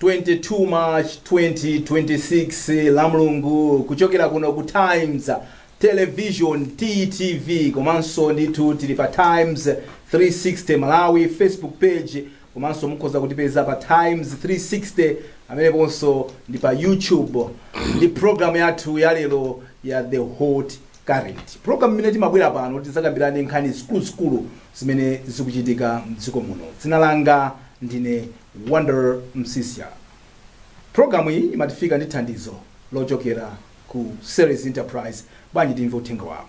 22 March 2026 la Mulungu kuchokera kuno ku Times Television TTV komanso ndithu tili pa Times 360 Malawi Facebook page komanso mukhoza kutipeza pa times 360 ameneponso ndi pa youtube ndi programu yathu yalero ya the hot current programu imene timabwera pano tizakambirane nkhani zikuluzikulu zimene zikuchitika mdziko muno dzina langa ndine wonder msisya programu iyi imakufikani ndi thandizo lochokera ku series enterprise bwanji timve uthenga wawo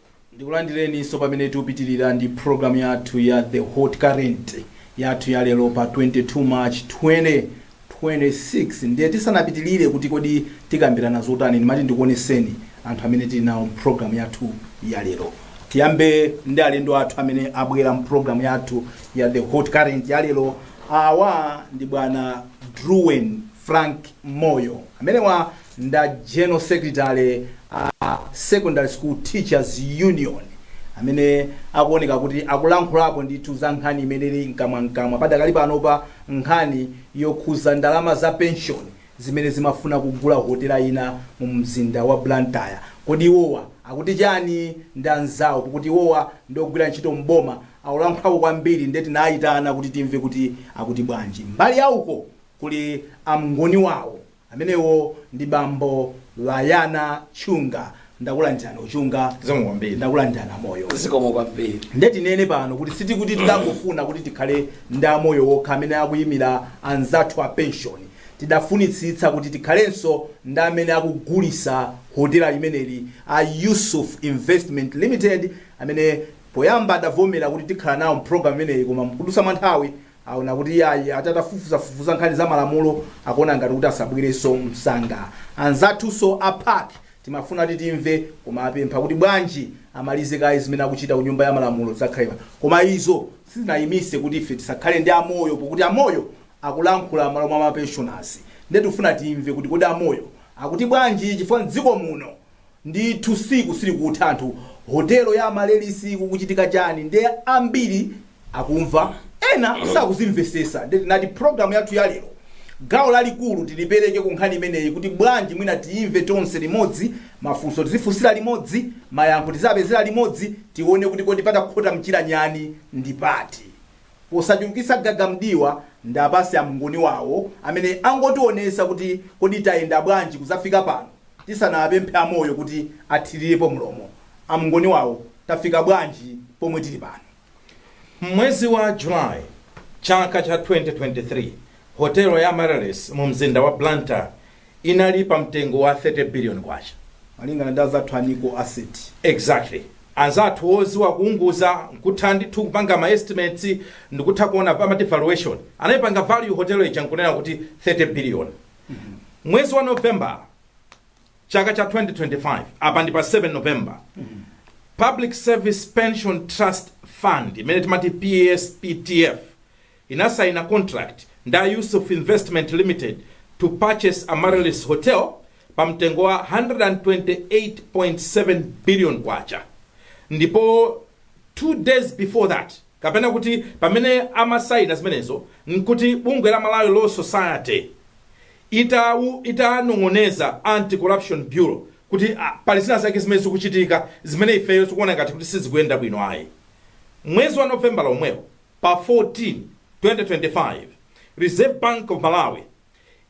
Ndikulandileninso pamene tikupitilira ndi program yathu ya The Hot Current yathu ya lero pa 22 March 2026. Ndiye tisanapitilire kuti kodi tikambilana zotani, ndimati ndikuoneseni anthu amene tili nawo mu program yathu ya lero. Tiyambe ndi alendo athu amene abwera mu program yathu ya The Hot Current ya lero. Awa ndi bwana Druwen Frank Moyo. Amenewa nda General Secretary a Secondary School Teachers Union amene akuoneka kuti akulankhulapo ndithu za nkhani imene ili mkamwamkamwa padakali panopa, nkhani yokhuza ndalama za penshoni zimene zimafuna kugula hotela ina mu mzinda wa Blantyre. Kodi iwowa akuti chani? Ndi anzawo pokuti iwowa ndi ogwira ntchito m'boma akulankhulapo kwambiri nde tinayitana kuti timve kuti akuti bwanji. Mbali ya uko kuli a Mngoniwawo. Amenewo ndi bambo Bayana Chunga. Ndakulandirani a Chunga. Zikomo kwambiri. Ndakulandirani a Moyo. Zikomo kwambiri. Ndiye tinene pano kuti sitikuti tidangofuna kuti tikhale ndi a Moyo okha amene akuyimira anzathu a penshoni. Tidafunitsitsa kuti tikhalenso ndi amene akugulitsa hotela limeneli a Yusuf Investment Limited amene poyamba adavomera kuti tikhala nawo m'programu imeneyi koma mkudutsa kwa nthawi aona kuti iyayi ati atafufuzafufuza nkhani za malamulo akuona ngati kuti asabwereno msanga anzathunso a pac timafuna kuti timve koma apempha kuti bwanji amalize kaye zimene akuchita ku nyumba ya malamulo zakhalema koma izo sizinayimise kuti ife tisakhale ndi a moyo pokuti a moyo akulankhula malo mwa mapensioners nde tifuna timve kuti kodi a moyo akuti bwanji chifukwa mdziko muno ndithu siku silikutha anthu hotelo ya amaryllis kukuchitika chani nde ambiri akumva ena sakuzimvesesa nde tinati program yathu ya lero gawo lalikulu tilipeleke ku nkhani imeneyi kuti bwanji mwina tiyimve tonse limodzi mafunso tizifunsira limodzi mayankho tizapezera limodzi tione kuti kodi patakhota mchira nyani ndi pati Posachulukitsa gaga mdiwa nda pansi a Mngoni wawo amene angotionetsa kuti kodi tayenda bwanji kudzafika pano tisanapemphe a Moyo kuti athirirepo mlomo a Mngoni wawo tafika bwanji pomwe tili pano. M'mwezi wa July chaka cha 2023, Hotelo ya Amaryllis mu mzinda wa Blantyre inali pa mtengo wa 30 billion kwacha. Malingana ndi azathu a Nico Asset. Exactly. Anzathu oziwa kuunguza nkutha ndithu kupanga ma estimates ndikutha kuona pa valuation. Anaipanga value hotel ija nkunena kuti 30 billion. Mwezi wa November chaka cha 2025 apa ndi pa 7 November. Public Service Pension Trust Fund imene timati PSPTF inasaina contract nda Yusuf Investment Limited to purchase Amaryllis Hotel pa mtengo wa 128.7 billion kwacha ndipo 2 days before that kapena kuti pamene amasaina zimenezo nkuti bungwe la Malawi Law Society itanong'oneza Anti Corruption Bureau kuti ah, pali zina zake zimene zikuchitika zimene ifeyo tikuona ngati kuti sizikuyenda bwino ayi mwezi wa November lomwewo Pa 14, 2025, Reserve Bank of Malawi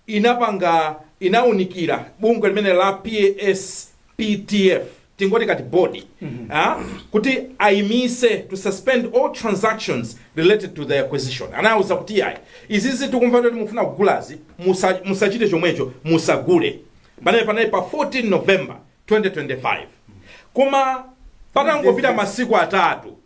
inapanga inaunikira bungwe limene la PSPTF tingoti ka board ah, kuti ayimise to suspend all transactions related to the acquisition anauza kuti yayi izizi tikumva kuti mufuna kugulazi musa- musachite chomwecho musagule panayi panayi pa 14 november 2025 koma patangopita masiku atatu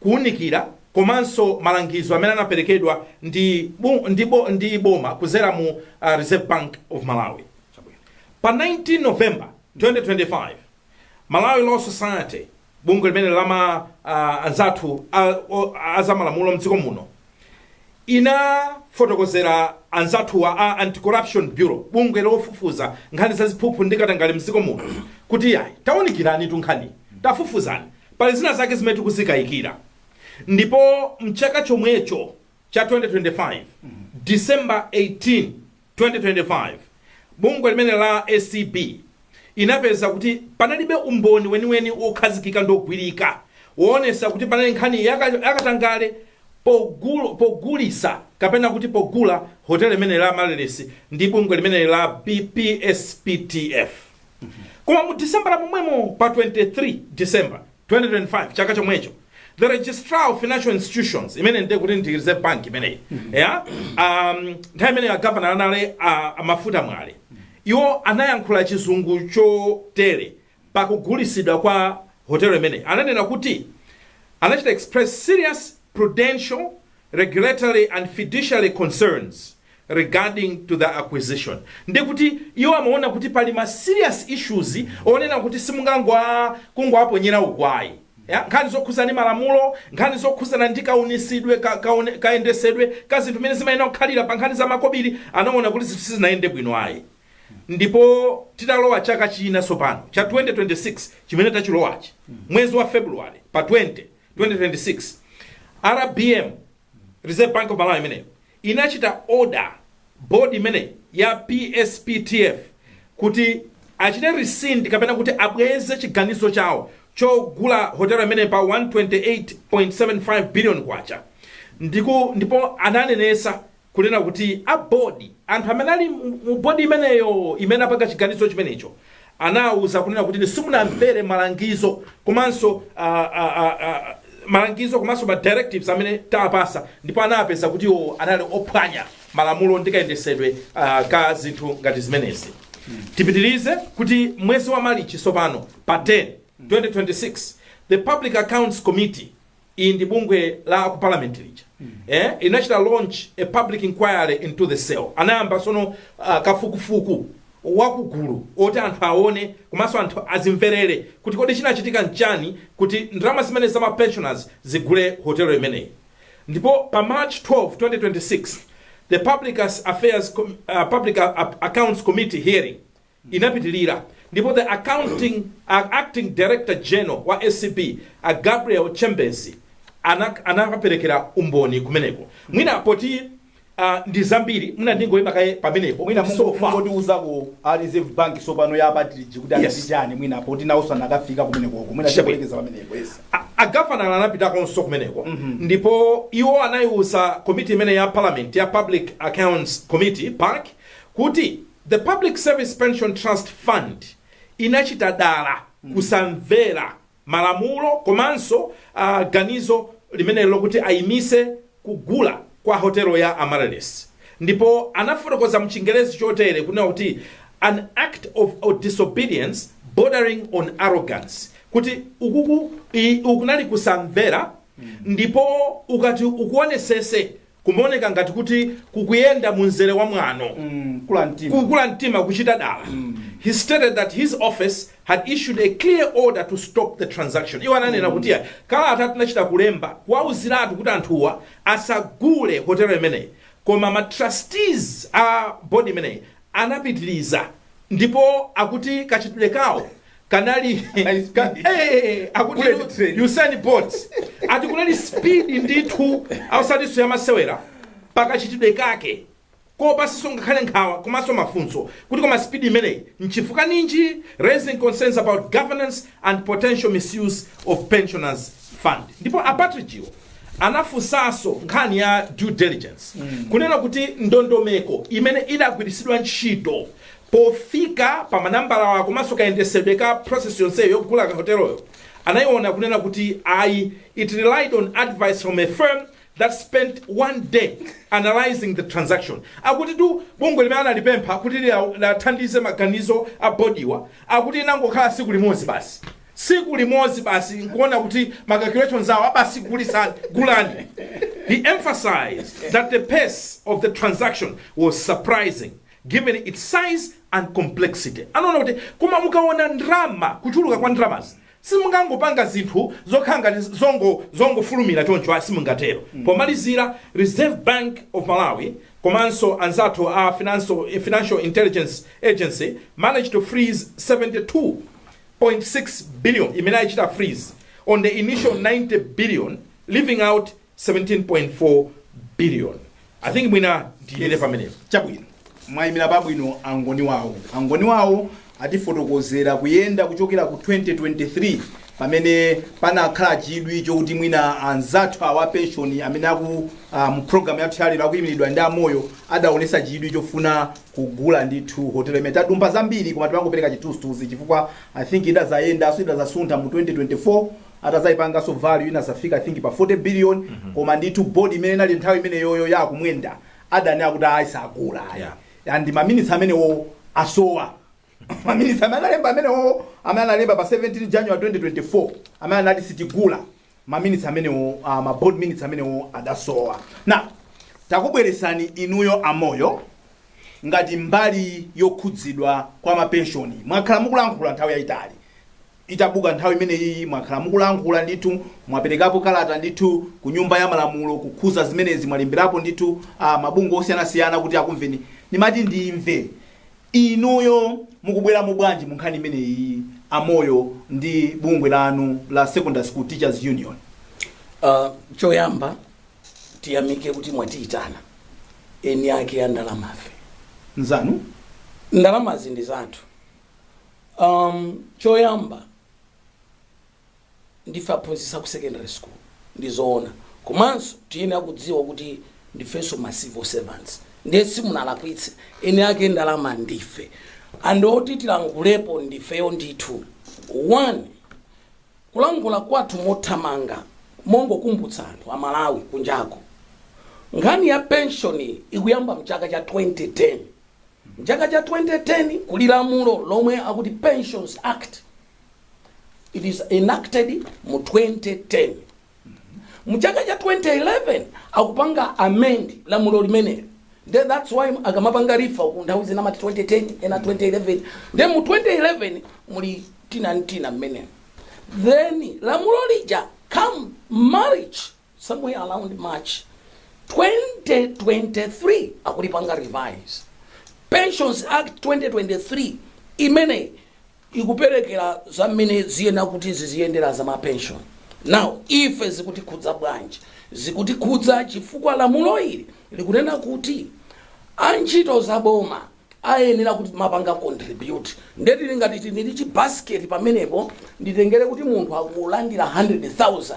kuunikira komanso malangizo amene anaperekedwa ndi bu, ndi, bo, ndi boma kuzera mu uh, Reserve Bank of Malawi. Pa 19 November 2025 Malawi Law Society bungwe limene lama uh, anzathu a- o- azamalamulo mdziko muno inafotokozera anzathuwa a anti-corruption bureau bungwe lofufuza nkhani za ziphuphu ndi katangale mdziko muno kuti ayi taunikiranitu nkhani tafufuzani Pali zina zake zimene tikuzikayikira ndipo mchaka chomwecho cha 2025 December 18 2025 bungwe limene la acb inapeza kuti panalibe umboni weniweni wokhazikika ndi ogwirika woonesa kuti panali nkhani yakatangale pogul, pogulisa kapena kuti pogula hoteli limene la Amaryllis ndi bungwe limene la PSPTF. koma mu disembala momwemo pa 23 december 2025 chaka chomwecho the registrar of financial institutions imene ndiye kuti ndi reserve bank imeneyi yeah? um, nthawi imeneyo agavana anali a, a mafuta mwale iwo anayankhula chizungu chotere pakugulisidwa kwa hotelo imeneyi ananena kuti anachita express serious prudential regulatory and fiduciary concerns regarding to the acquisition ndi kuti iwo amaona kuti pali ma serious issues onena kuti simungangowaponyera uko ayi ya, nkhani zokhuzana ndi malamulo nkhani zokhuzana ndi kaunisidwe ka, kaone- kayendesedwe ka zinthu zimene zimayenera kukhalira pa nkhani za makobiri anaona kuti zinthu sizinayende bwino ayi ndipo titalowa chaka china tsopano cha 2026 chimene tachilowachi mwezi wa february pa 20 2026 rbm reserve bank of malawi imeneyo inachita order board imeneyi ya PSPTF kuti achite rescind kapena kuti abweze chiganizo chawo chogula hotelo imeneyi pa K128.75 billion kwacha ndipo ananenesa kunena kuti a board anthu amene ali mu board imeneyo imene apanga chiganizo chimenecho anawauza kunena kuti inu simunamvere malangizo komanso ah, ah, ah, ah, malangizo komanso ma directives amene tawapasa ndipo anapeza kuti iwo anali ophwanya malamulo ndi kayendesedwe ah, ka zinthu ngati zimenezi tipitirize kuti mwezi wa malichi tsopano pa 10 2026 the public accounts committee iyi ndi bungwe la aku parliament lija eh, inachita launch a public inquiry into the sale anayamba sono uh, kafukufuku wakugulu oti anthu aone komanso anthu azimverere kuti kodi chinachitika nchiyani kuti ndalama zimene za ma pensioners zigule hotelo imeneyi ndipo pa march 12 2026 the public affairs Com- uh, public A- accounts committee hearing inapitilira ndipo the accounting a acting director general wa acb a Gabriel Chembezi anak anakaperekera umboni kumeneko mwina poti ah, ndi zambiri mwina ndingoyima kaye pamenepo mwina so far mungotiuzako a reserve bank sopano ya a Partridge kuti Yes. anati chani mwina poti nawo anakafika kumenekoko mwina Sure. tikalekeze pamenepo yes A- agavana anapitakonso kumeneko ndipo iwo anayiwuza komiti imene ya parliament ya public accounts committee pac kuti The Public Service Pension Trust Fund inachita dala kusamvera malamulo komanso ah, ganizo limeneli lokuti ayimise kugula kwa hotelo ya Amaryllis ndipo anafotokoza mchingerezi chotere kunena kuti an act of, of disobedience bordering on arrogance kuti ukuku i- ukunali kusamvera ndipo ukati ukuonesese Kumaoneka ngati kuti kukuyenda mu mzere wa mwano, kukula mtima kuchita dala. He stated that his office had issued a clear order to stop the transaction. Iwo ananena kuti kalatatu tinachita kulemba kuwauziratu kuti anthuwa asagule hotelo imeneyi koma ma trustees a board imeneyi anapitiliza ndipo akuti kachitidwe kawo kanali ka, eh, akuti Bullet train. Usain Bolt ati kunali speed ndithu osatinso yamasewera pakachitidwe kake kopatsanso ngakhale nkhawa komanso mafunso kuti koma speed imeneyi nchifukwa chanji raising concerns about governance and potential misuse of pensioners funds ndipo a Partridge wo anafunsanso nkhani ya due diligence kunena kuti ndondomeko imene idagwiritsidwa ntchito pofika pa manambalawa komanso kayendesedwe ka process yonseyo yogula ka hoteloyo anayiona kunena kuti ayi it relied on advice from a firm that spent one day analyzing the transaction akutitu bungwe limene analipempha kuti lia- liathandize maganizo a bodiwa akuti inangokhala tsiku limodzi basi tsiku limodzi basi nkuona kuti ma calculations awo aa basi gulitsani gulani he emphasized that the pace of the transaction was surprising given its size and complexity anaona kuti koma mukaona ndrama kuchuluka kwa ndramazi simungangopanga zinthu zokhala ngati zongofulumira choncho aa simungatero pomalizira reserve bank of malawi komanso anzathu a financial intelligence agency managed to freeze 72 .6 billion imene aichita freeze on the initial 90 billion leaving out 17.4 billion i think mwina ndiyime pamenepo chabwino mwayimira pabwino a Ngoni Wawo a Ngoni Wawo atifotokozera kuyenda kuchokera ku 2023 pamene panakhala chidwi chokuti mwina anzathu awa a penshoni amene aku ah, mu program yathu yalero akuyimiridwa ndi a Moyo adaonetsa chidwi chofuna kugula ndithu hotel imene tadumpha zambiri koma timangopereka chithunzithunzi chifukwa i think idazayendanso idazasuntha mu 2024 atazaipanganso value inazafika i think pa 40 billion koma ndithu board imene inali nthawi imeneyoyo ya a Kumwenda adanena kuti ayi sagula ayi and maminitsi amenewo asowa maminitsi amene analemba amenewo amene analemba pa 17 january 2024 amene anati sitigula ma minutes amenewo uh, ma board minutes amenewo adasowa now takubweretsani inuyo a Moyo ngati mbali yokhudzidwa kwa mapenshoni mwakhala mukulankhula nthawi yayitali itabuka nkhani imeneyi mwakhala mukulankhula ndithu mwaperekapo kalata ndithu ku nyumba ya malamulo kukhudza zimenezi mwalemberapo ndithu uh, mabungwe osiyanasiyana kuti akumveni ndimati ndimve Inuyo mukubweramo bwanji mu nkhani imeneyiyi a Moyo ndi bungwe lanu la Secondary School Teachers Union? Uh, choyamba tiyamike kuti mwatiitana eni ake a ndalamafe Nzanu? ndalamazi ndi zathu um, choyamba ndife aphunzitsi aku secondary school ndi zoona komanso tiyene akudziwa kuti ndifenso ma civil servants ndiye simunalakwitse eni ake ndalama ndife ndipo oti tilankhulepo ndifeyo ndithu one kulankhula kwathu mothamanga mongokumbutsa anthu amalawi kunjako nkhani ya penshoni ikuyamba mchaka cha 2010 mchaka cha 2010 kuli lamulo lomwe akuti pensions act it is enacted mu 2010 mu chaka cha 2011 akupanga amend lamulo limeneli nde that's why akamapanga refer ku nthawi zina amati 2010 ena 2011 nde mu 2011 muli tina n'tina mmene then lamulo lija come March somewhere around march 2023 akulipanga revise pensions act 2023 imene ikuperekera za mmene ziyena kuti ziziyendera za mapension now ife zikutikhudza bwanji zikutikhudza chifukwa lamulo ili likunena kuti antchito za boma ayenera kuti tizipanga contribute nde tili ngati tinili chibasket pamenepo nditengere kuti munthu akulandira 100000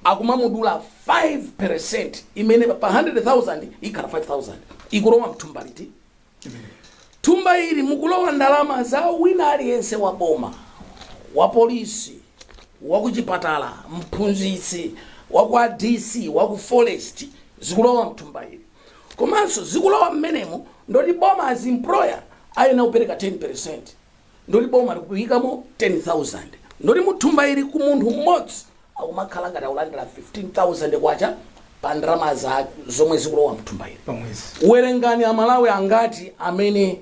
akumamudula 5 imene pa 100000 ikhala 5000 ikulowa mthumba liti thumba ili mukulowa ndalama za wina aliyense wa boma wa polisi wa kuchipatala mphunzitsi wa kwa dc wa ku forest zikulowa mthumba ili komanso zikulowa mmenemo ndoti boma as employer ayena kupereka 10 ndoti boma likuyikamo 10000 ndoti muthumba ili ku munthu mmodzi akumakhala ngati akulandira 15000 kwacha pa ndalama za zomwe zikulowa mthumba ili werengani amalawi angati amene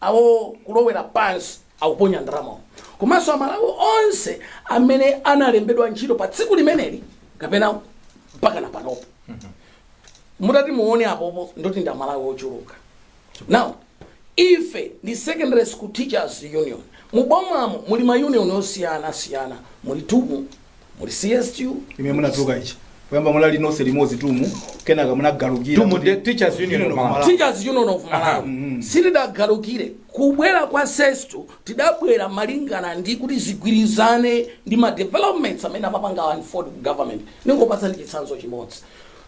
awo kulowera pansi akuponya ndalama komanso amalawi onse amene analembedwa ntchito pa tsiku limeneli kapena mpakana panopo mutati muone apopo ndoti ndi amalawi ochuluka now ife ndi secondary school teachers union mubomamo muli ma union osiyana siyana muli tumu muli TUM muli CSTU imene munadzuka ichi poyamba munali nonse limodzi TUM kenaka munagalukira TUM kuti- ndi Teachers Union Union of of Malawi. teachers union of malawi sitidagalukire kubwera kwa SESTU tidabwera malingana ndi kuti zigwirizane ndi ma developments amene amapanga wa ford government ndingopatsani chitsanzo chimodzi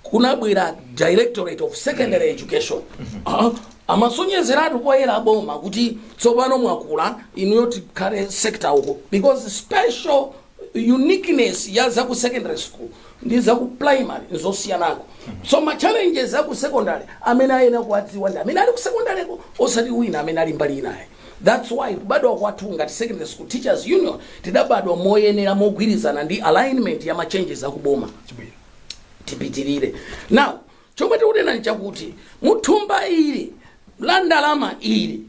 kunabwera directorate of secondary education Ah, amasonyezeratu poyera aboma kuti tsopano mwakula inuyo tikhale sector uko because special uniqueness ya za ku secondary school ndi za ku primary nzosiyanako so ma challenges a ku secondary amene ayenera kuwadziwa ndi amene ali ku secondary ko osati wina amene ali mbali inayi that's why kubadwa kwathu ngati secondary school teachers union tidabadwa moyenera mogwirizana ndi alignment ya ma changes a ku boma chabwino tipitirire now chomwe tikunena nchakuti muthumba ili la ndalama ili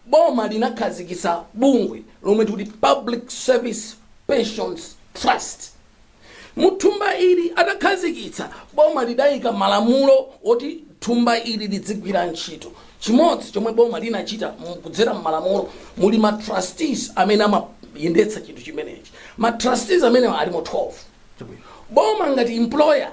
Boma linakhazikitsa bungwe lomwe tikuti Public Service Pensions Trust. Mu thumba ili atakhazikitsa, boma lidaika malamulo oti thumba ili lidzigwira ntchito. Chimodzi chomwe boma linachita mu- kudzera m'malamulo muli ma trustees amene amayendetsa chinthu chimenechi. Ma trustees amenewa alimo 12. Chabwino. Boma ngati employer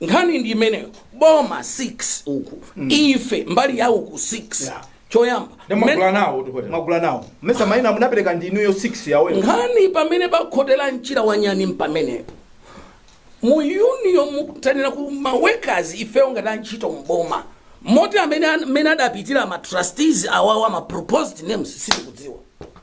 nkhani ndi imeneyo boma 6 uku ife mbali yawo uku 6 Yeah. choyamba Ndi mmene- mwagula nawo kuti hotel. mwagula nawo mesa maina munapereka ndi inuyo 6 yawo nkhani pamene pakhotera mchira wa nyani mpamenepo mu union mukutanira ku ma workers ifeyo ngati antchito mboma moti amene amene adapitira ma trustees awawa ma proposed names sitikudziwa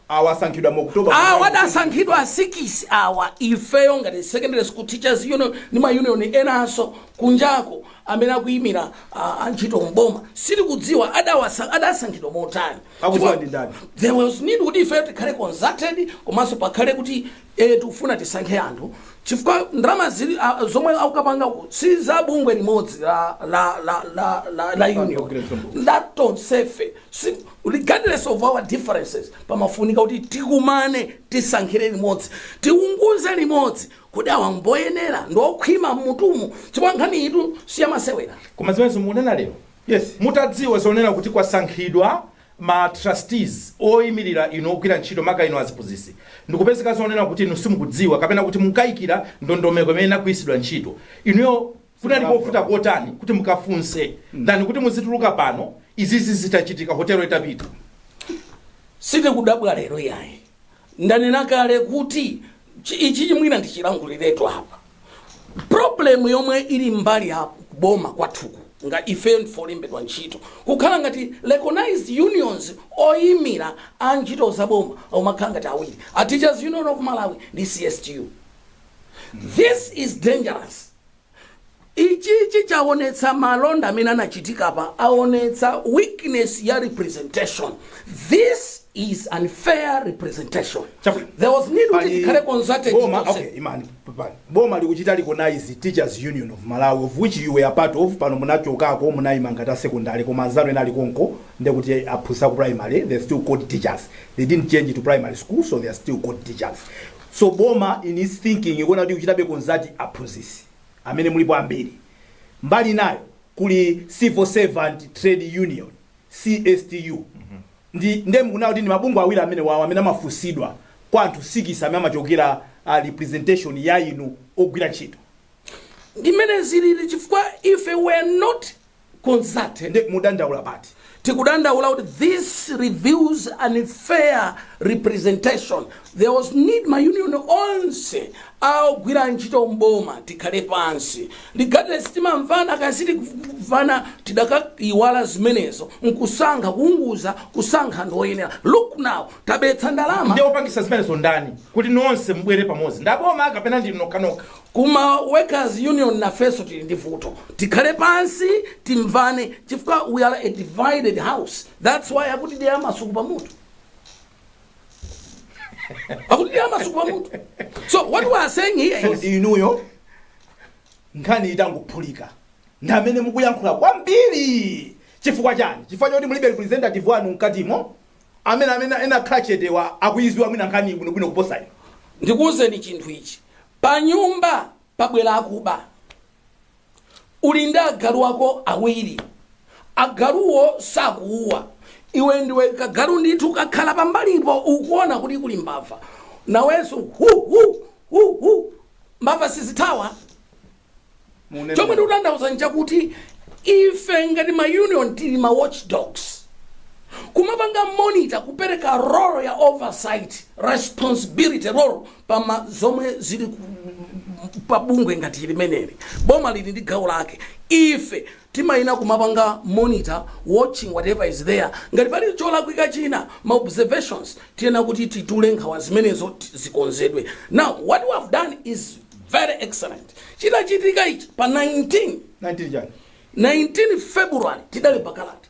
Awa asankhidwa mu October kukhala Awa ndi adasankhidwa a president a sikisi awa, ifeyo ngati Secondary School Teachers Union ndi ma union enanso kunjako amene akuyimira a- antchito m'boma, sitikudziwa adawasa- adasankhidwa motani. Akudziwa ndi ndani? There was need kuti ifeyo tikhale consulted komanso pakhale kuti eh, tikufuna tisankhe anthu chifukwa ndalama zili ah, zomwe akukapanga uku si za bungwe limodzi la la la la la, la union Progressive. nda tonsefe so regardless of our differences pamafunika kuti tikumane tisankhire limodzi tiunguze limodzi kuti awa mboyenera ndiokhwima mmutumu chifukwa nkhani iyitu siyamasewera koma zimenezo mukunena lero Yes. mutadziwa zonena kuti kwasankhidwa ma trustees oyimirira inu ogwira ntchito maka inu aziphunzitsi ndikupezeka zonena kuti inu simukudziwa kapena kuti mukayikira ndondomeko imene inagwiritsidwa ntchito inuyo kunali kovuta kotani kuti mukafunse ndani kuti muzituluka pano izizi zitachitika hotelo itapita sitikudabwa lero yayi ndanena kale kuti chi- ichi chimene ndichilanguliretu apa problem yomwe ili mbali ya kuboma kwathuku nga ife ndife olembedwa ntchito kukhala ngati recognized unions oyimira antchito za boma omakhala ngati awiri a teachers union of malawi ndi cstu this is dangerous Ichichi chaonetsa malonda amene anachitika apa aonetsa weakness ya representation. This is unfair representation. Chabwino. There was need kuti Pali- tikhale consulted Boma, tonse. okay, imani, pepani. Boma likuchita recognize Teachers Union of Malawi of which you were a part of pano munachokako munayima ngati a secondary koma anzanu ena ali konko ndekuti aphunzitsi a ku primary they still called teachers they didn't change it to primary school so they are still called teachers So boma in its thinking ikuona kuti ikuchitabe consult aphunzitsi amene mulipo ambiri. Mbali inayo kuli Civil Servant Trade Union, cstu, ndi nde mukunena kuti ndi mabungwe awiri amenewawo amene amafunsidwa kwa anthu sikisi amene amachokera a representation ya inu ogwira ntchito. Ndi mmene zilili chifukwa ife we're not consulted nde mudandaula pati tikudandaula kuti this reveals an unfair representation there was need ma union onse aogwira ntchito mboma tikhale pansi regardless timamvana kaya sitikumvana tidakaiwala zimenezo nkusankha kuunguza kusankha ndi oyenera look now tabetsa ndalama ndiye opangisa zimenezo ndani kuti nonse mubwere pamodzi ndaboma kapena ndi nokhanokha Ku ma workers union nafenso tili ndi vuto. Tikhale pansi timvane chifukwa we are a divided house. That's why akutidyera masuku pa mutu. Akutidyera masuku pa mutu. So what we are saying here is inuyo nkhani itangophulika ndi amene mukuyankhula kwambiri chifukwa chani chifukwa choti mulibe representative wanu mkatimo amene amene anakhala chetewa akuiziwa mwina nkhaniyi bwino bwino kuposa inu. ndikuuzeni chinthu ichi panyumba pabwera akuba uli ndi agalu ako awiri agaluwo sakuuwa iwe ndiwe kagalu ndithu kakhala pambalipo ukuona kuti kuli mbava nawenso hu hu hu hu mbava sizithawa Munene chomwe bwino. ndikutanthauza nchakuti ife ngati ma union tili ma watchdogs kumapanga monitor kupereka role ya oversight responsibility role pama zomwe zili ku- pa bungwe ngati limeneli boma lili ndi gawo lake ife timayenera kumapanga monitor watching whatever is there ngati pali cholakwika china ma observations tiyenera kuti titule nkhawa zimenezo ti- zikonzedwe now what we have done is very excellent chidachitika ichi pa 19 19 chani 19 february tidalemba kalata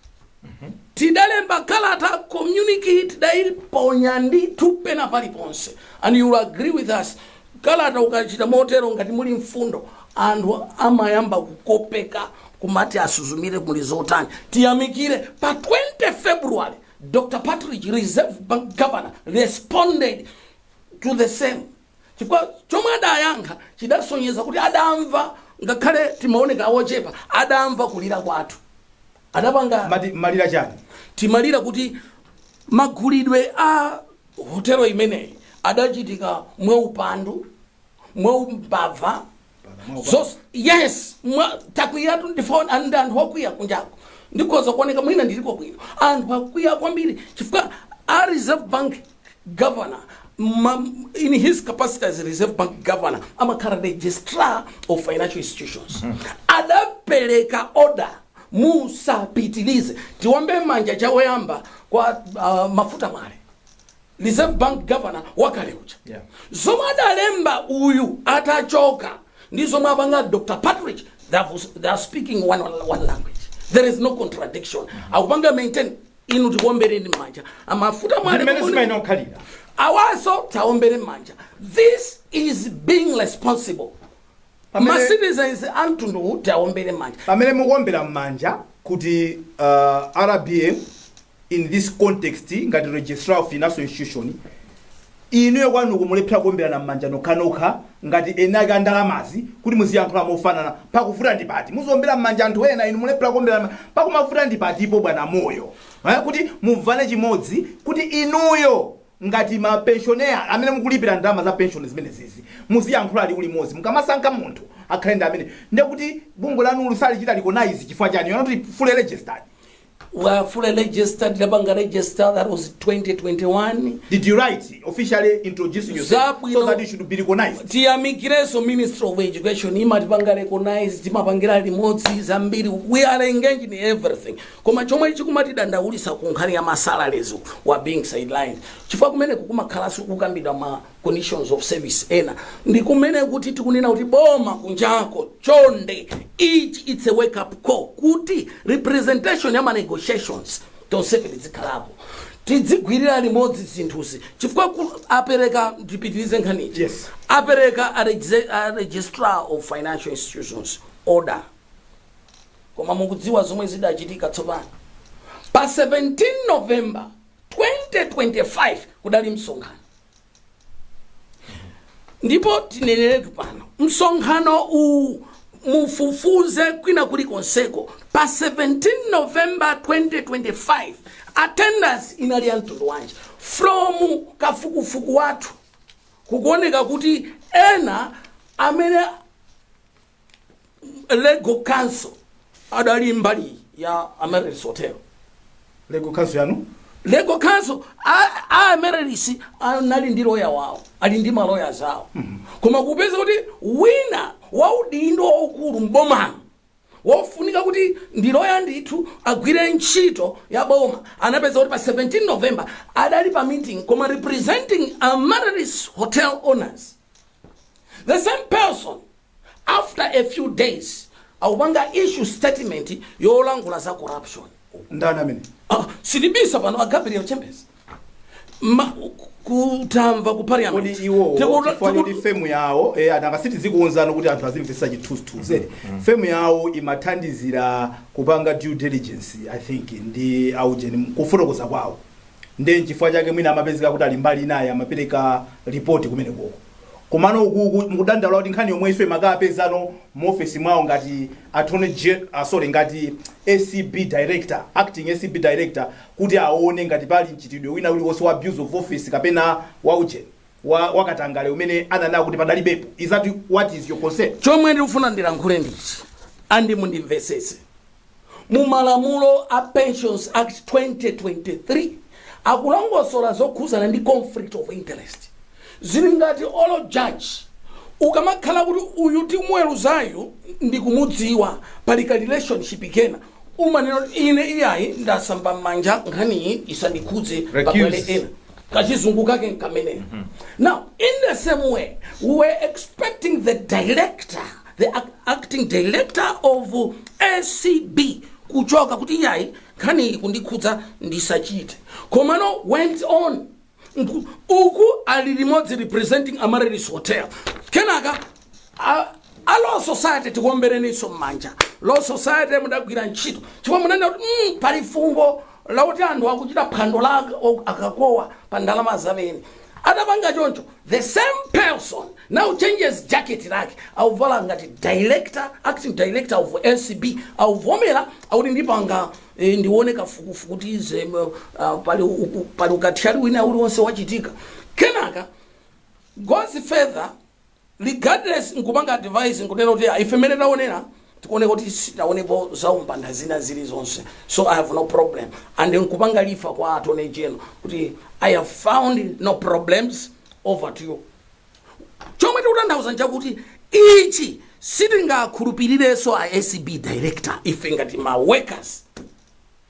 tidalemba kalata communique tidaiponya ndithu pena paliponse and you will agree with us kalata ukachita motero ngati muli mfundo anthu amayamba kukopeka kumati asuzumire muli zotani tiyamikire pa 20 february dr patrick reserve bank governor responded to the same chifukwa chomwe adayankha chidasonyeza kuti adamva ngakhale timaoneka ochepa adamva kulira kwathu adapanga Mati malira chani? timalira kuti magulidwe a hotelo imeneyi adachitika mwaupandu mwaumbava So yes mwa- takwiyatu ndi zoona anthu akwiya kunjako ndikhoza kuoneka mwina ndiliko bwino anthu akwiya kwambiri chifukwa a reserve bank governor ma, in his capacity as reserve bank governor amakhala registrar of financial institutions adapereka order musapitilize tiwombe manja chawoyamba kwa uh, Mafuta Mwale Reserve Bank Governor wakale uja. Yeah. Zomwe adalemba uyu atachoka ndi zomwe apanga Dr. Patrick they have- they are speaking one, one language. There is no contradiction. Akupanga maintain inu tikuombereni manja. A Mafuta Mwale Ndi mmene zimayenera kukhalira awaso tiwaombere manja. This is being responsible. Ma pamene citizens amtundu uwu tiwaombere manja. pamene mukuombera m'manja kuti uh, rbm In this context, ngati registrar of financial institution, inuyo kwanuko mulephera kuomberana m'manja nokhanokha ngati eni ake a ndalamazi kuti muziyankhula mofanana. Pakuvuta ndi pati? Muziombera m'manja anthu ena, inu mulephera kuomberana m'ma- Pakumavuta ndi patipo bwana Moyo? Eh, kuti mumvane chimodzi kuti inuyo ngati mapensioner amene mukulipira ndalama za pension zimenezizi muziyankhula liwu limodzi mukamasankha munthu akhale ndi amene ndekuti bungwe lanu sakulichita recognize chifukwa chani you're not fully registered We are fully registered, linapanga register, that was 2021. Did you write officially introducing yourself so Zabwino. that you should be recognized? tiyamikireso ministry of education imatipanga recognize timapangira limodzi zambiri we are engaged in everything koma chomwe chikumatidandawulisa ku nkhani ya masalaries we are being sidelined chifukwa kumene kukumakhalanso kukambidwa ma conditions of service ena ndikumene kuti tikunena kuti boma kunjako chonde ichi it's a wake up call kuti representation ya ma negotiations tonsefe tidzikhalapo tidzigwirira limodzi zinthuzi chifukwa ku- apereka ndipitirize nkhaniyi Yes. apereka a regi- a registrar of financial institutions order koma mukudziwa zomwe zidachitika tsopano pa 17 november 2025 kudali msonkhano ndipo tineneretu pano msonkhano uwu mufufuze kwina kuli konseko pa 17 november 2025 attendance inali ya mtundu wanji from kafukufuku wathu kukuoneka kuti ena amene legal counsel adali mbali ya amaryllis hotel legal counsel yanu legal counsel a- a amaryllis anali ndi loya wawo ali ndi maloya zawo koma kupeza kuti wina waudindo waukulu mbomano wofunika kuti ndi loya ndithu agwire ntchito ya boma anapeza kuti pa 17 november adali pa meeting koma representing amaryllis hotel owners the same person after a few days akupanga issue statement yolankhula za corruption ndani amene ah, sitibisa pano a gabriel chembezi Ma, kutamva ku kodi parliament iwowo Tikuta- chifukwa choti tiku- femu yawo eh, nanga si tizikuuzani kuti anthu azimvetsa chithunzithunzi femu yawo imathandizira kupanga due diligence i think ndi aujeni kufotokoza kwawo nde nchifukwa chake mwina amapezeka kuti ali mbali inayo amapereka ripoti kumene koko komano ukuku mukudandaula kuti nkhani yomwe ikumakapezano mu office mwawo ngati attorney gen uh, sorry ngati ACB director acting ACB director kuti aone ngati pali mchitidwe wina uliwonse wa abuse of office kapena wa ujeni wa wakatangale umene ananena kuti padalibepo is that what is your concern chomwe ndikufuna ndilankhule ndichi andi mundimvesese mu malamulo a pensions act 2023 akulongosola zokhuzana ndi conflict of interest zili ngati olo judge ukamakhala kuti uyu timuweruzayu ndikumudziwa pali ka relationship kenaka umanena kuti ine iyayi ndasamba m'manja nkhaniyi isandikhudze pabwere Recuse. ena kachizungu kake nkameneyo now in the same way we were expecting the director the ac- acting director of acb kuchoka kuti iyayi nkhani iyi kundikhudza ndisachite komano went on Nku- uku ali limodzi representing amaryllis hotel kenaka a- a law society tikuombereninso m'manja law society mudagwira ntchito chifukwa munanena kuti mm, pali fungo lakuti anthu akuchita phwando la akakowa pa ndalama za pension atapanga choncho the same person now changes jacket lake akuvala ngati director acting director of acb akuvomera akuti ndipanga eh, ndione kafukufuku kuti ize uh, pali uku- pali ukathyali wina uliwonse wachitika kenaka goes further Regardless nkupanga advise nkunena kuti ah, ife mmene taonera tikuoneka kuti sitaonepo zaumbanda zina zilizonse so i have no problem and nkupanga lifa kwa attorney general kuti i have found no problems over to you chomwe tikutanthauza nchakuti ichi sitingakhulupirirenso a acb director ife ngati ma workers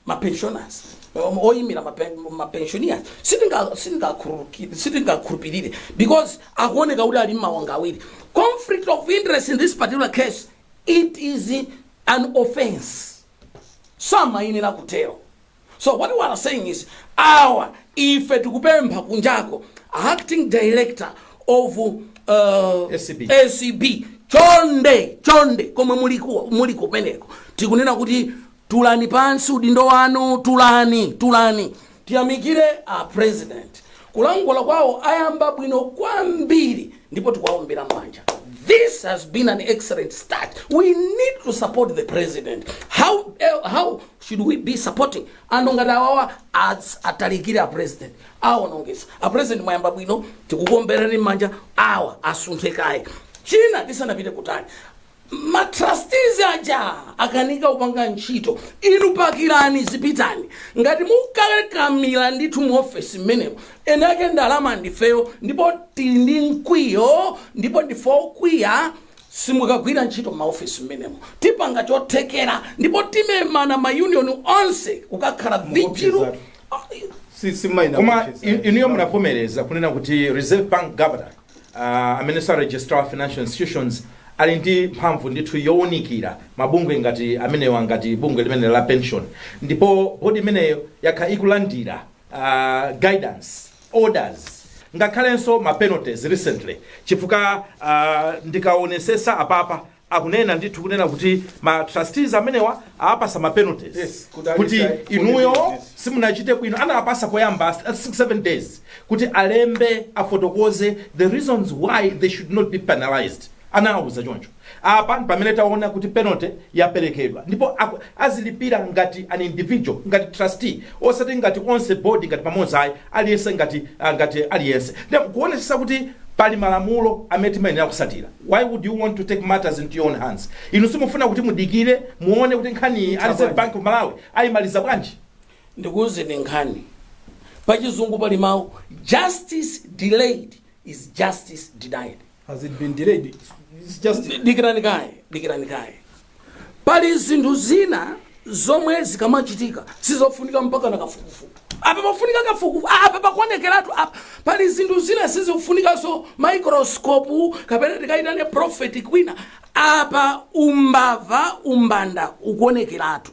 ma pensioners um, oyimira ma pen- ma pensioners sitinga- sitingakhululuki- sitingakhulupirire because akuoneka kuti ali mmawanga awiri, conflict of interest in this particular case it is an offense samayenera kutero so what we are saying is awa ife tikupempha kunjako acting director of uh, ACB. acb chonde chonde komwe muliku- muli kumeneko tikunena kuti tulani pansi udindo wanu tulani tulani tiyamikire a president kulankhula kwawo ayamba bwino kwambiri ndipo tikuwaombera mmanja this has been an excellent start we need to support the president how, eh, how should we be supporting anthu ngati awawa as- atalikire a president awonongesa a president mwayamba bwino tikukuomberani mmanja awa asunthe kaye china tisanapite kutali ma trustees aja akanika kupanga ntchito inu pakirani zipitani ngati mukakamira ndithu mu ofesi mmenemo eni ake ndalama ndifeyo ndipo tili ndi mkwiyo ndipo ndife okwiya simukagwira ntchito maofesi mmenemo tipanga chothekera ndipo timemana mayuniyoni onse kukakhala vijilu Mukuopsezatu. si si maina koma kucheza. in- inuyo munavomereza kunena kuti reserve bank governor uh, amenenso ali registrar financial institutions ali ndi mphamvu ndithu yowunikira mabungwe ngati amenewa ngati bungwe limene la pension ndipo bodi imeneyo yakhala ikulandira uh, guidance orders ngakhalenso ma penalties recently chifukwa uh, ndikaonesesa apapa akunena ndithu kunena kuti ma trustees amenewa awapasa ma penalties Yes, kuti ali kuti shy, kuti inuyo yes. simunachite bwino anawapasa poyamba 7 days kuti alembe afotokoze the reasons why they should not be penalized anawauza choncho apa ndi pamene taona kuti penalty yaperekedwa ndipo aku- azilipira ngati an individual ngati trustee osati ngati onse board ngati pamodzi ayi aliyense ngati ah, ngati aliyense ndi kuonetsetsa kuti pali malamulo amene timayenera kusatira why would you want to take matters into your own hands inu simufuna kuti mudikire muone kuti nkhaniyi a reserve bank of malawi ayimaliza bwanji ndikuuzeni nkhani pachizungu pali mawu justice delayed is justice denied Has it been delayed? It's just Di- dikirani kaye dikirani kaye pali zinthu zina zomwe zikamachitika sizofunika mpakana kafukufuku apa pafunika kafukufuku apa pakuonekeratu apa pali zinthu zina sizikufunikanso microscope kapena tikaitane prophet kwina apa umbava umbanda ukuonekeratu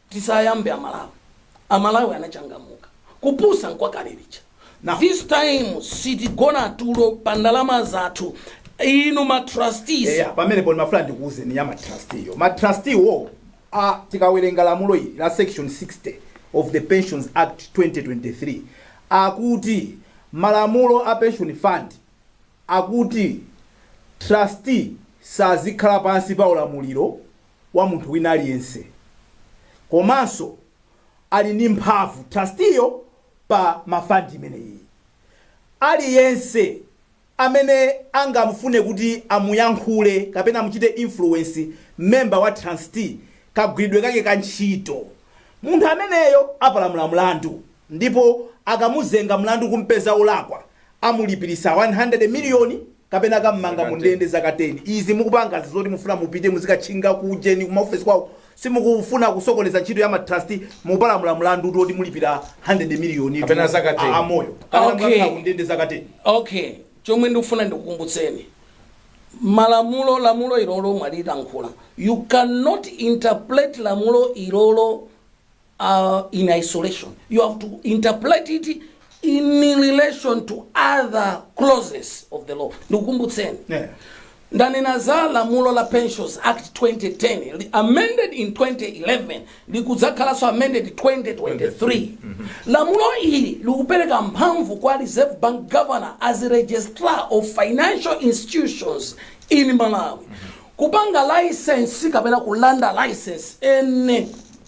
Tisayambe amalawi amalawi anachangamuka kupusa n'kwakale lija now this time sitigona tulo pa ndalama zathu inu ma trustees eya pamenepo ndimafuna ndikuuzeni ya matrusteeyo matrusteewo tikawerenga lamulo ili la section 60 of the pensions act 2023 akuti malamulo a pension fund akuti trustee sazikhala pansi pa ulamuliro wa munthu wina aliyense komanso ali ndi mphamvu trusteeyo pa fund imeneyi. Aliyense amene angamufune kuti amuyankhule kapena amuchite influence member wa trustee kagwiridwe kake ka ntchito, munthu ameneyo apalamula mlandu ndipo akamuzenga mlandu kumpeza wolakwa amulipiritsa 100 million kapena kammanga mu ndende zaka 10 izi mukupangazi zoti mufuna mupite muzikatchinga ku ujeni kuma office kwawo simukufuna kusokoneza ntchito ya ma trustee mukupalamula mlandutu woti mulipira 100 million Kapena zaka 10. amoyo kapena Okay. mukakhala ku ndende zaka 10 okay chomwe ndikufuna ndikukumbutseni malamulo lamulo ilolo mwalilankhula you cannot interpret lamulo ilolo uh, in isolation. You have to interpret it in relation to other clauses of the law. Ndikukumbutseni. Yeah. ndanena za lamulo la pensions act 2010 li- amended in 2011 likudzakhalanso amended 2023 lamulo ili likupereka mphamvu kwa reserve bank governor as registrar of financial institutions in malawi kupanga license kapena kulanda license ene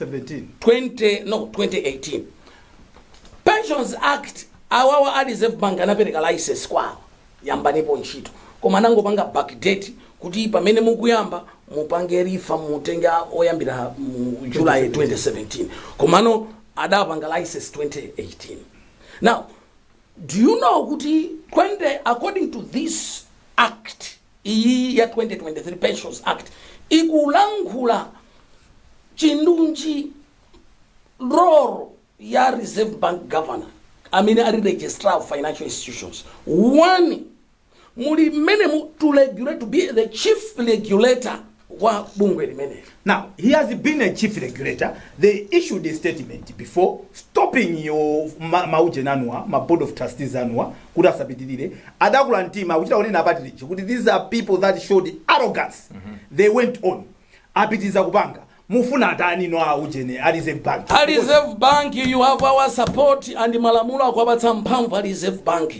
17 20 no 2018 pensions act awawa a reserve bank anapereka license kwawo yambanipo ntchito koma anangopanga backdate kuti pamene mukuyamba mupange refer mutenge oyambira mu july 2017 komano adapanga license 2018 now do you know kuti 20 according to this act iyi ya 2023 pensions act ikulankhula chindunji role ya reserve bank governor amene ali registrar of financial institutions one muli mmenemu to regulate to be the chief regulator wa bungwe limeneli Now, he has been a chief regulator. They issued a statement before stopping your ma- mauje anuwa, ma board of trustees anuwa, kuti asapitirire. Adakula mtima, akuchita kunena a Partridge, kuti these are people that showed arrogance. They went on. Apitiriza kupanga. Mufuna atani now aujeni, a reserve bank. a reserve bank you have our support and malamulo akwapatsa mphamvu a reserve bank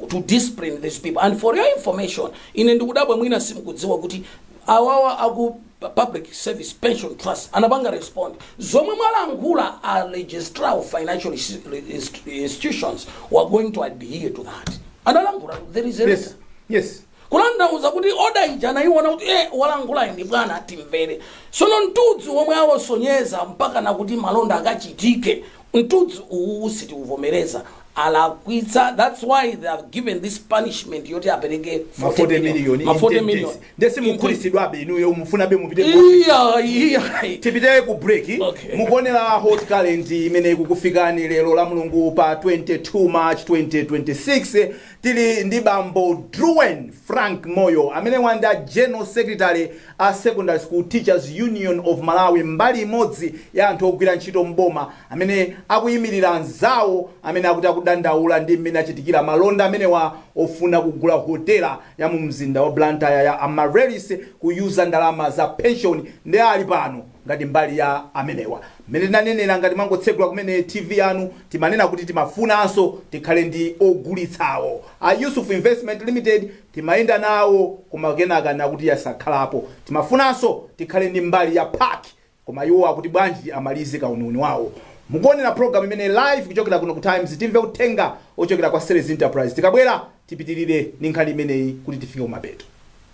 to discipline these people and for your information ine ndikudabwa mwina simukudziwa kuti awawa aku public service pension trust anapanga respond zomwe mwalankhula a registrar of financial insti- inst- institutions we're going to adhere to that analankhula there is a letter yes yes kutanthauza kuti order ija anaiona kuti eh, walankhulayo ndi bwana timvere sono mtudzi womwe awasonyeza mpaka nakuti malonda akachitike Mtudzu uwowo sitiuvomereza alakwitsa that's why they have given this punishment yoti apereke ma 40 million ma 40 million nde simukhulitsidwabe inuyo mufunabe mupite ku office. iya iya tipite ku break Okay. mukuonera hot current imene ikukufikani lero la mulungu pa 22 march 2026 tili ndi bambo druen frank moyo amene uh ndi general secretary a Secondary School Teachers Union of Malawi mbali imodzi ya anthu ogwira ntchito m'boma amene akuyimilira anzawo amene akuti akudandaula ndi m'mene achitikira malonda amenewa ofuna kugula hotela ya mu mzinda wa Blantyre ya Amaryllis ku yuza ndalama za pension nde ali pano ngati mbali ya amenewa. M'mene tinanenera ngati mwangotsegula kumene TV yanu timanena kuti timafunanso tikhale ndi ogulitsawo. A Yusuf Investment Limited Timayenda nawo koma kenaka nakuti asakhalapo. Timafunanso tikhale ndi mbali ya PAC koma iwo akuti bwanji amalize kauniuni wawo. Mukuonera program imeneyi live kuchokera kuno ku Times timve uthenga wochokera kwa Sellers Enterprise tikabwera tipitilire ndi nkhani imeneyi kuti tifike kumapeto.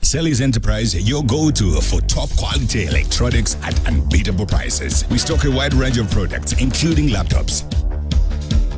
Sellers Enterprise, your go to for top quality electronics at unbeatable prices. We stock a wide range of products, including laptops.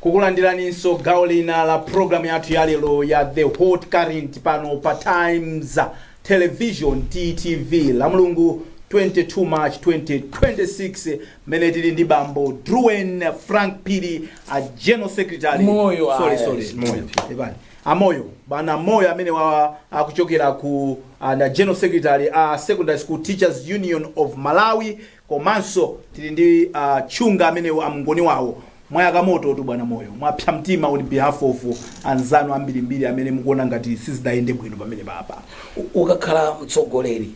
kukulandiraninso gawo lina la program yathu ya lero ya the hot current pano pa times television ttv la mulungu 22 march 2026 mmene tili ndi bambo druen frank phiri a general secretary Moyo, ah, sorry, sorry, yes, moyo Pepani. a moyo bwana moyo amene wa akuchokera ku uh, ndi general secretary a secondary school teachers union of malawi komanso tili ndi a Chunga amenewa a Mngoni wawo mwayaka moto tu bwana moyo mwapsa mtima on behalf of anzanu ambirimbiri amene mukuona ngati sizidayende bwino pamenepapa U- ukakhala mtsogoleri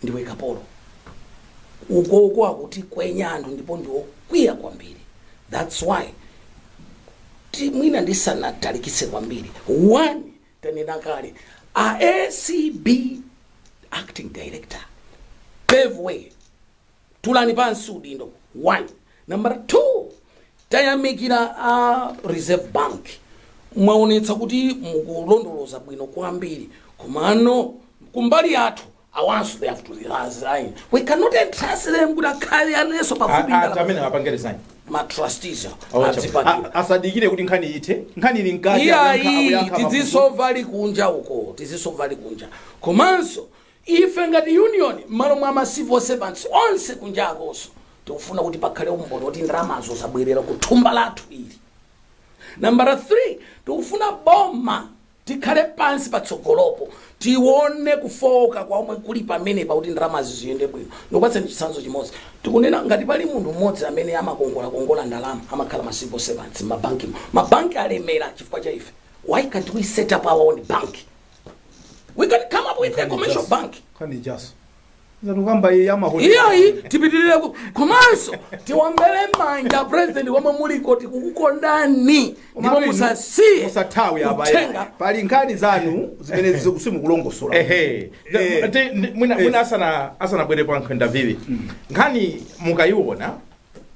ndiwe kapolo ukoko akutikwenya anthu ndipo ndiwokwiya kwambiri that's why ti- mwina ndisanatalikise kwambiri one tanena kale a acb acting director pave way tulani pansi udindo one number two tayamikira a reserve bank mwaonetsa kuti mukulondoloza bwino kwambiri komano kumbali yathu awanso they have to resign we cannot entrust them kuti akhale anenso pafupi A- a- ndi amene apange resign ma trustees Awa, adzipangira a- asadikire kuti nkhani ithe nkhani ili mkati iyayi akuyankha- akuyankha mafunso. tizisova ali kunja uko tizisova ali kunja komanso ife ngati union mmalo mwa ma civil servants onse kunja akunso tikufuna kuti pakhale umboni woti ndalamazo zabwerera ku thumba lathu ili nambala 3 tikufuna boma Tikhale pansi patsogolopo tione kufooka kwa omwe kuli pamenepa kuti ndalamazi ziyende bwino. Ndikupatsani chitsanzo chimodzi. Tikunena ngati pali munthu mmodzi amene amakongolakongola ndalama amakhala ma civil servants mmabankimo. Mabanki alemera chifukwa cha ife. Why can't we set up our own bank? We can come up with a commercial bank. Nkhani ijaso. zatukamba iyi yamahotelo iyayi tipitirire ku- komanso tiwombere manja president wa omwe muliko tikukukondani ndipo musasiye musathawe apa pali nkhani zanu zimene ziku- simukulongosola ehe Eh. Ndi- ndi- mwina Eh. mwina asana asanabwere a nkhwenda vivi nkhani mukayiona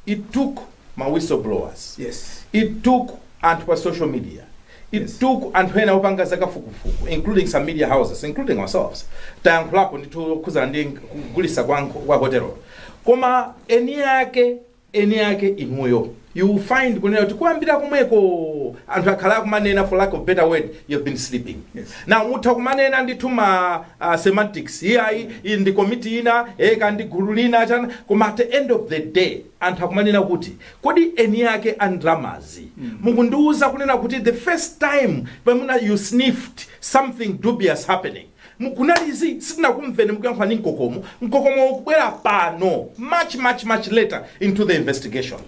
it took ma whistle blowers Yes. it took anthu pa social media it Yes. took anthu ena opanga zakafukufuku including some media houses including ourselves tayankhulapo ndithu zokhuzana ndi kugulisa kwa, nko- kwa hotelo koma eni ake eni ake inuyo you will find kunena kuti kuyambira komweko anthu akhala akumanena for lack of better word you've been sleeping Yes. Now, mutha kumanena ndithu ma ah, semantics, iyayi, iyi ndi komiti ina, eka ndi gulu lina, chani, koma at the end of the day, anthu akumanena kuti, kodi eni ake a ndalamazi, mukundiuza kunena kuti the first time pamuna you sniffed something dubious happening, mu- kunali zi, sitinakumveni mukuyankhula ndi mkokomo, mkokomo ukubwera pano, much, much, much later into the investigation.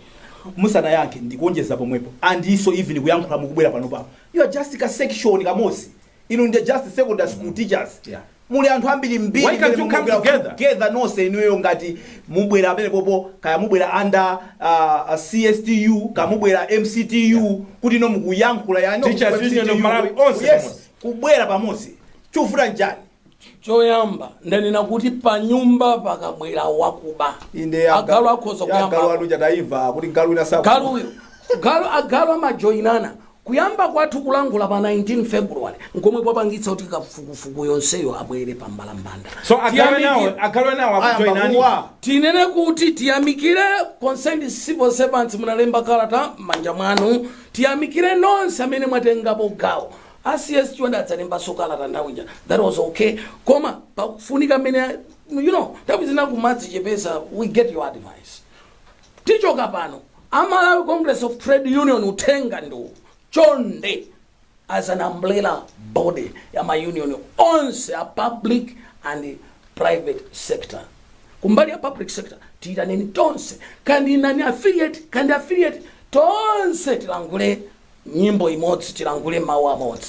musanayankhe ndikuonjeza pomwepo andiso even kuyankhula mukubwera pano pano You are just ka section kamozi. Inu ndi just secondary school teachers. Yeah. Muli anthu ambiri mbiri. Why can't you come together? Together nonse inuyo ngati mubwera pamenepopo kaya mubwera under uh, uh CSTU, kaya mubwera MCTU yeah. kuti no mukuyankhula ya no. Teachers Union of Malawi onse. Yes. Kubwera pamozi. Chovuta nchani? choyamba ndanena kuti panyumba pakabwera wakuba inde ya agalu akhoza ya agalu kuyamba akuuwa taimva kuti galu ina saku galuyo galu agalu amajoyinana kuyamba kwathu kulankhula pa 19 february nkomwe kwapangitsa kuti kafukufuku yenseyo abwere pa mbalambanda so agalu nawo Tiyamikire- agalu nawo ayamba akujoinani kuuwa tinene kuti tiyamikire concerned civil servants munalemba kalata m'manja mwanu tiyamikire nonse amene mwatengapo gawo A CS Chonde adzalembanso kalata nthawi ija that was ok koma pakufunika mmene you know nthawi zina kumadzichepesa we get your advice tichoka pano a Malawi Congress of Trade Union uthenga ndiwo chonde as an umbrella body ya ma union onse a public and private sector kumbali ya public sector tiyitaneni tonse kaya ndi non affiliate kaya ndi affiliate tonse tilankhule nyimbo imodzi tilankhule mawu amodzi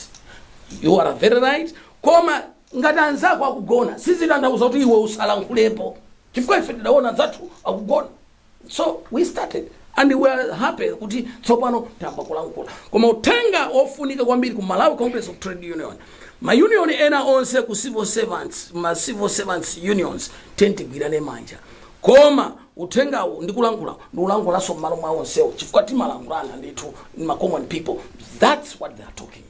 you are very right koma ngati anzako akugona sizitanthauza kuti iwe usalankhulepo chifukwa ife tidaona anzathu akugona so we started and we are happy kuti tsopano tayamba kulankhula koma uthenga wofunika kwambiri ku malawi congress of trade union mayunion ena onse ku civil servants ma civil servants unions tiyeni tigwirane manja koma uthengawu ndikulankhula ndikulankhulanso m'malo mwa onsewo chifukwa timalankhulana ndithu ndi ma common people thats what they are talking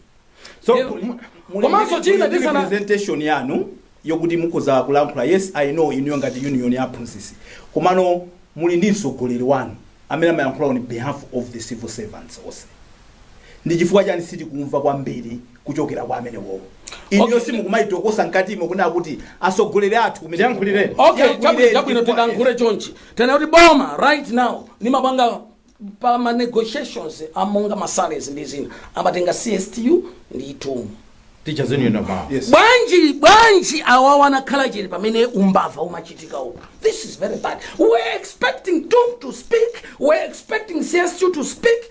So, Lero, mu- mu- muli komanso ndi- china muli ndi ndisana representation yanu yokuti mukhoza kulankhula yes i know inuyo ngati union ya aphunzitsi komano muli ndi mtsogoleri wanu amene amayankhula on behalf of the civil servants onse ndi chifukwa chani sitikumva kwambiri kuchokera kwa amenewowo inuyo Okay. simukumaitokosa mkatimo kunena kuti atsogoleri athu kumene Tiyankhulireni. okay Tiyankhulireni chabwino chabwino chifukwa- tilankhule chonchi tinene kuti boma right now limapanga pa ma negotiations a monga ma salaries ndi zina amatenga cstu ndi tum teachers union of malawi Yes. bwanji bwanji awawa anakhala chete pamene umbava umachitika uko this is very bad we're expecting tum to speak we're expecting cstu to speak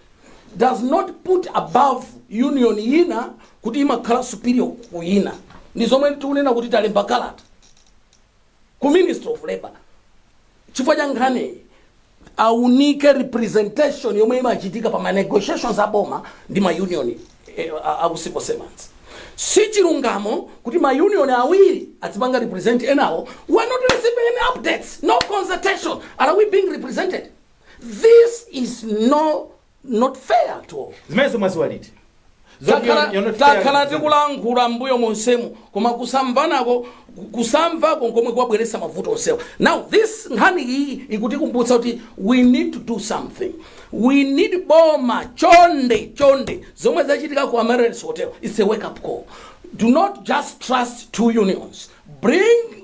does not put above union ina kuti imakhala superior ku ina ndi zomwe tikunena kuti talemba kalata ku ministry of labor chifukwa cha nkhaniyi aunike representation yomwe imachitika pa ma negotiations a boma ndi ma union eh, a- a ku civil servants si chilungamo kuti ma union awiri azipanga represent enawo we are not receiving any updates no consultation are we being represented This is no not fair at all. zimenezo mwadziwa liti Zoti Takhala- you're- you're not fair. takhala tikulankhula mbuyo monsemu koma kusamvanako kusamvako nkomwe kwabweretsa mavuto onsewa now this nkhani iyi ikutikumbutsa kuti we need to do something we need boma chonde chonde zomwe zachitika ku amaryllis hotel its a wake up call do not just trust two unions bring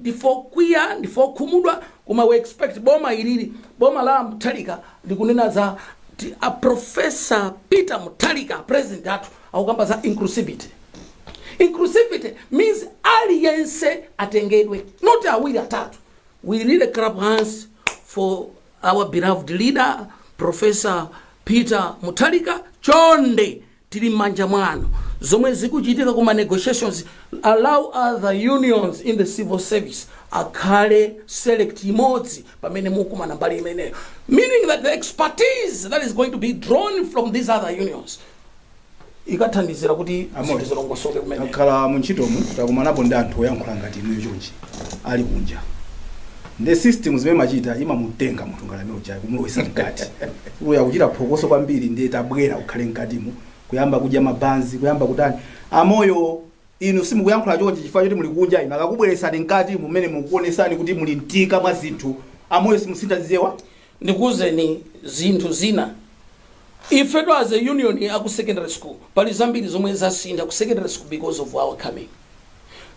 ndife okwiya ndife okhumudwa koma we expect boma ilili boma la mutharika likunena za ti- a professor peter mutharika president athu akukamba za inclusivity inclusivity means aliyense atengedwe not awiri atatu we really clap hands for our beloved leader professor peter mutharika chonde tili mmanja mwanu zomwe zikuchitika ku ma negotiations allow other unions in the civil service akhale select imodzi pamene mukumanga mbali imeneyo meaning that the expertise that is going to be drawn from these other unions ikathandizira kuti zinthu zilongosoke kumene akhala mu ntchitomu takumanapo ndi anthu oyankhula ngati inuyo chonchi ali kunja Nde system zimene imachita imamutenga munthu ngati amene ujayo kumulowetsa mkati uyo akuchita phokoso kwambiri nde tabwera ukhale mkatimu kuyamba kudya mabanzi kuyamba kutani a Moyo inu simukuyankhula chonchi chifukwa choti muli kunja inu akakubweretsani mkati mumenemo kukuonetsani kuti muli ntika mwa zinthu a Moyo simusintha zichewa ndikuuzeni zinthu zina ifetu as a union aku secondary school pali zambiri zomwe zasintha ku secondary school because of our coming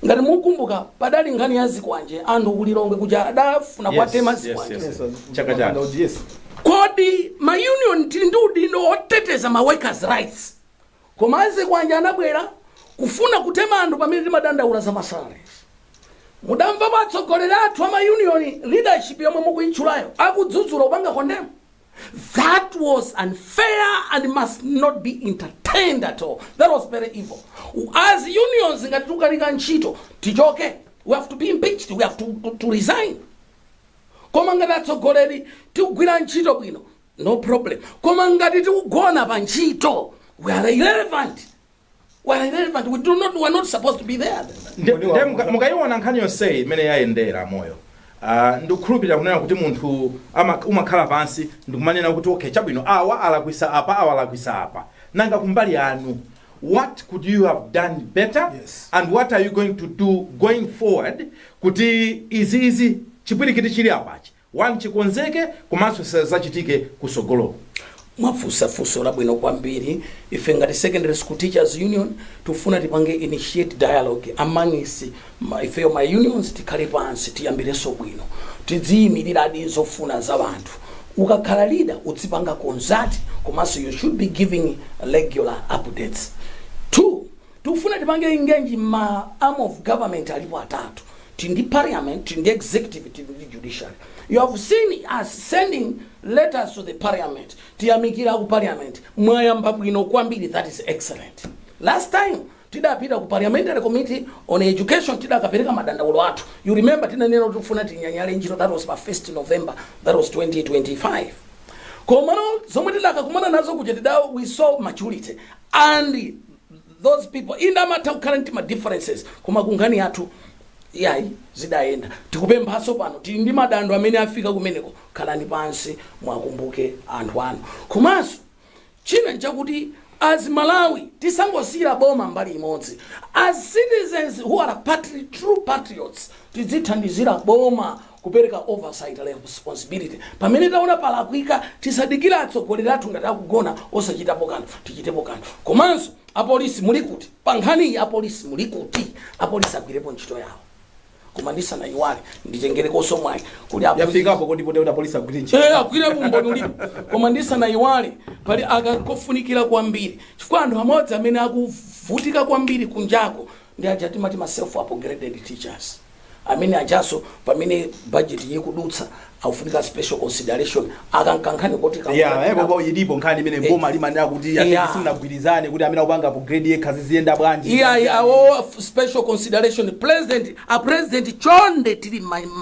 ngati mukumbuka padali nkhani ya zikwanje anthu ku Lilongwe kuja adafuna kuwatema zikwanje Chaka chaka. kodi ma union tili ndi udindo oteteza ma workers rights Koma a zikwanje anabwera kufuna kutema anthu pamene timadandaula za masalary. Mudamvapo atsogoleri athu ama union leadership yomwe mukuyitchulayo akudzudzula kupanga condemn? That was unfair and must not be entertained at all. That was very evil. As unions ngati tukanika ntchito tichoke. We have to be impeached. We have to, to, to resign. Koma ngati atsogoleri tikugwira ntchito bwino no problem koma ngati tikugona pa ntchito we are irrelevant we are irrelevant we do not we are not supposed to be there Nde- Kodi nde wakuza- muka- mukayiona nkhani yonseyi imene yayendera a Moyo Ah, ndikukhulupirira kunena kuti munthu ama- umakhala pansi ndikumanena kuti okay chabwino awa alakwisa apa awa alakwisa apa nanga kumbali yanu what could you have done better Yes. and what are you going to do going forward kuti izi izi chipwirikiti chili apachi 1 chikonzeke komanso zisadzachitike kutsogoloku. Mwafunsa funso labwino kwambiri, ife ngati Secondary School Teachers Union tikufuna tipange initiate dialogue amongst ifeyo ma unions tikhale pansi tiyambirenso bwino tidziyimiliradi zofuna za anthu ukakhala leader udzipanga consult komanso you should be giving regular updates 2 tikufuna tipange engage ma arms of government alipo atatu tili ndi parliament tili ndi executive tili ndi judiciary you have seen us sending letters to the parliament tiyamikira aku parliament mwayamba bwino kwambiri that is excellent last time tidapita ku parliamentary committee on education tidakapereka madandaulo athu you remember tinanena kuti tifuna tinyanyale ntchito that was pa 1st november that was 2025 komano zomwe tidakakumana nazo kuja tida we saw maturity and those people inde amatha kukhala ndi ma differences koma kunkhani yathu yayi zidayenda tikupemphaso pano tili ndi madando amene afika kumeneko khalani pansi mwakumbuke anthu anu komanso china nchakuti as malawi tisangosiyira boma mbali imodzi as citizens who are patri, true patriots tidzithandizira boma kupereka oversight and responsibility pamene taona palakwika tisadikire atsogoleri athu ngati akugona osachitapo kanthu tichitepo kanthu komanso apolisi muli kuti pa nkhani iyi apolisi muli kuti apolisi agwirepo ntchito yawo koma ndisanayiwale nditengerekonso mwayi kuti apolisi- yafikapo kodi poteuta apolisi agwire ntchito Eh, agwire umboni ulipo koma ndisanayiwale pali kakankhani kofunikira kwambiri chifukwa anthu amodzi amene akuvutika kwambiri kunjako ndi aja timati ma self upgraded teachers amene ajanso pamene budget iyi ikudutsa akufunika special consideration aka nkankhani koti ka- Yeah, eh, koko ilipo nkhani imene Eh. boma limanena kuti Yeah. yeah. simunagwirizane kuti amene akupanga upgrade yekha ziziyenda bwanji iyayi awo special consideration president a president chonde tili ma-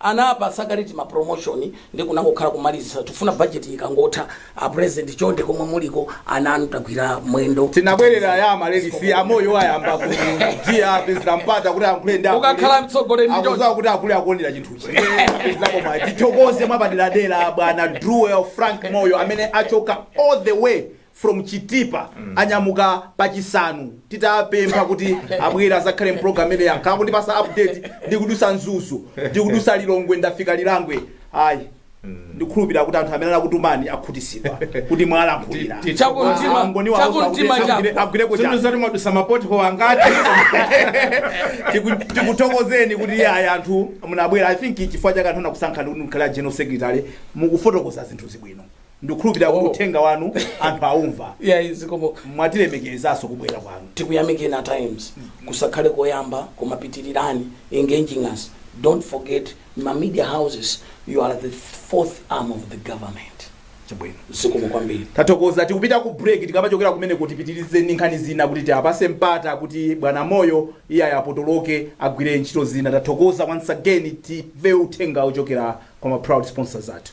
anapatsa kale ma promotion nde kunangokhala kumalizisa tifuna budget yi ikangotha a president chonde komwe muliko ana anu tagwira mwendo tinabwerera ya Amaryllis amoyo ayamba kutiapezera mpata kuti ayankhule ndi akulu. Ukakhala mtsogoleri ndi Akudziwa choncho. kuti akulu akuonera chinthuchi apezakoma tithokoze mwapaderadera bwana druwen frank moyo amene achoka all the way from chitipa anyamuka pa chisanu titapempha kuti abwere azakhale mprogram imeneyi ankhala akundipasa update ndikudusa mzuzu ndikudusa lilongwe ndafika lilangwe ayi ndikhulupirira kuti anthu amene anakutumani akhutisidwa kuti mwalankhulira Ti- ti- Chakumtima- Angoni wawo chakumtima kuti chako. agwire- agwireko chani. Zimene zoti mwadusa ma pothole angati Tiku- tikuthokozeni kuti iye ayi anthu munabwera i think chifukwa chake anthu anakusankhani kuti mukhale a general secretary mukufotokoza zinthu zabwino ndikukhulupirira kuti Oh. uthenga wanu anthu aumva yeah zikomo mwatilemekezaso kubwera kwanu tikuyamikeni at times kusakhale koyamba koma pitirirani engaging us don't forget ma media houses you are the fourth arm of the government chabwino zikomo kwambiri tathokoza tikupita ku break tikamachokera kumeneko tipitirize ndi nkhani zina kuti tiapase mpata kuti bwana moyo iye ayapotoloke agwire ntchito zina tathokoza once again timve uthenga wochokera kwa ma proud sponsors athu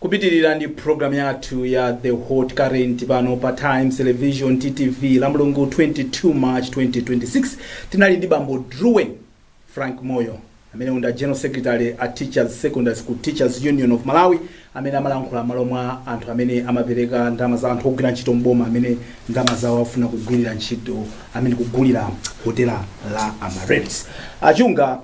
Kupitilira ndi program yathu ya The Hot Current pano pa Times Television TTV Lamulungu 22 March 2026 tinali ndi bambo Druwen Frank Moyo amene ndi a General Secretary a Teachers Secondary School Teachers Union of Malawi amene amalankhula malo mwa anthu amene amapereka ndalama za anthu ogwira ntchito mboma amene ndalama zawo afuna kugwirira ntchito amene kugulira hotela la Amaryllis. Achunga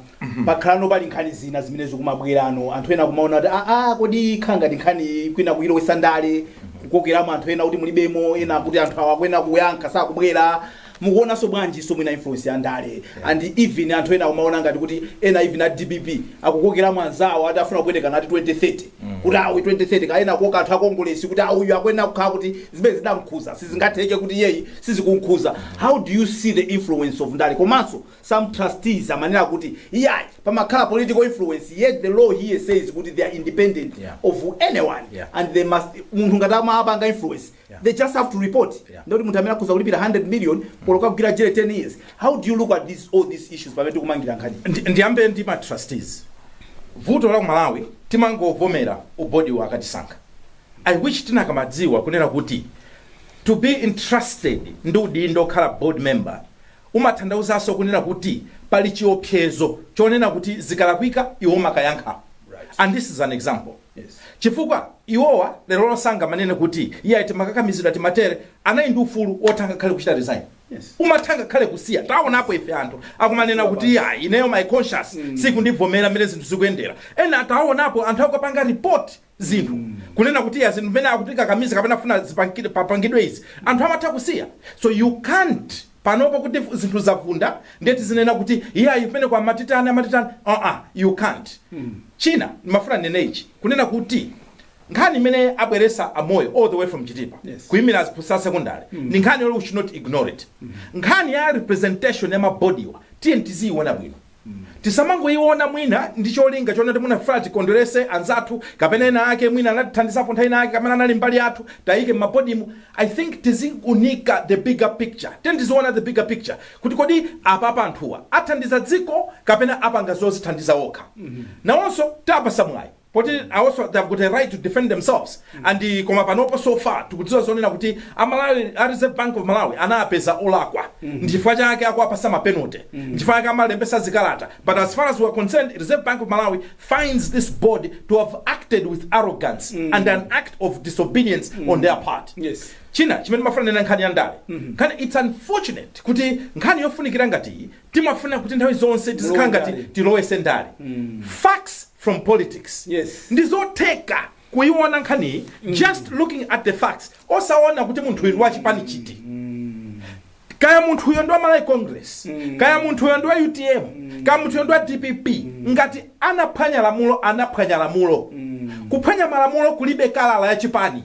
pakhalano pali nkhani zina zimene zikumabwerano anthu ena kumaona kuti aa kodi khala ngati nkhani iyi kwina kuilowesa ndale kukokeramo anthu ena kuti mulibemo ena kuti anthu awa akuyenera kuyankha sakubwera mukuonanso bwanjinso mwina influence ya ndale and even anthu ena kumaona ngati kuti ena even a dpp akukokeramo anzawo ati afuna kupwetekana ati 2030 kuti awo 2030 kaya ena kukoka anthu akongolesi kuti uyu akuyenera kukhala kuti zimenezi zidamkhuza sizingatheke kuti iyeyi sizikunkhuza how do you see the influence of ndale komanso some trustees amanena kuti iyayi pamakhala political influence yet the law here says kuti they are independent Yeah. of anyone Yeah. and they must munthu ngati amapanga influence Yeah. they just have to report Yeah. ndoti munthu amene akhoza kulipira 100 million olo kukagwira jere 10 years how do you look at this, all these issues pamene tikumangirira nkhani Ndi- ndiyambe ndi ma trustees vuto la kumalawi timangovomera ubodiwu akatisankha i wish tikanamadziwa kunena kuti to be entrusted ndi udindo okhala board member Umathandauzanso kunena kuti pali chiopsezo chonena kuti zikalakwika iwe umakayankha and this is an example chifukwa iwowa lerolo sangamanene kuti iyayi timakakamizidwa timatere, anali ndi ufulu wotha ngakhale kuchita resign, umatha ngakhale kusiya. Taonapo ife anthu akumanena kuti iyayi ineyo my conscience siikundivomera mmene zinthu zikuyendera, ena taonapo anthu akupanga report. zinthu kunena kuti iyayi zinthu mmene akutikakamiza kapena kufuna zipangidwe papangidwe izi anthu amatha kusiya so you can't panopo kuti fu- zinthu zavunda ndiye tizinena kuti iyayi pene kwa amatitani amatitani aa you can't china ndimafuna ndinene ichi kunena kuti nkhani imene abweresa amoyo all the way from chitipa Yes. kuimira aziphunzitsa secondary ndi nkhani yoti we should not ignore it nkhani ya representation ya mabodiwa tiye tiziyiona bwino Tisamangoiona mwina ndi cholinga chonena kuti mwina tikufuna tikondwerese anzathu kapena ena ake mwina anatithandizapo nthawi ina yake kapena anali mbali yathu, tiayike m'mabodimu. I think tiziwunika the bigger picture. Tiyeni tiziona the bigger picture kuti kodi apapa anthuwa athandiza dziko kapena apanga zozithandiza okha. Nawonso tiwapatsa mwayi. poti nawonso they have got a right to defend themselves and koma panopo so far tikudziwa zonena kuti amalawi a reserve bank of malawi anawapeza olakwa ndi chifukwa chake akuwapasa ma penalty ndi chifukwa chake awalembesa zikalata but as far as we are concerned reserve bank of malawi finds this board to have acted with arrogance and an act of disobedience on their part Yes. china chimene ndimafuna ndinene nkhani ya ndale nkhani it's unfortunate kuti nkhani yofunikira ngati iyi timafuna kuti nthawi zonse tizikhala ngati tilowese ndale facts from politics Yes. ndizotheka kuyiona nkhaniyi just looking at the facts osaona kuti munthu uyu ndi wachipani chiti kaya munthu uyo ndi wa malawi congress kaya munthu uyo ndi wa utm kaya munthu uyo ndi wa dpp ngati anaphwanya lamulo anaphwanya lamulo kuphwanya malamulo kulibe kala ya chipani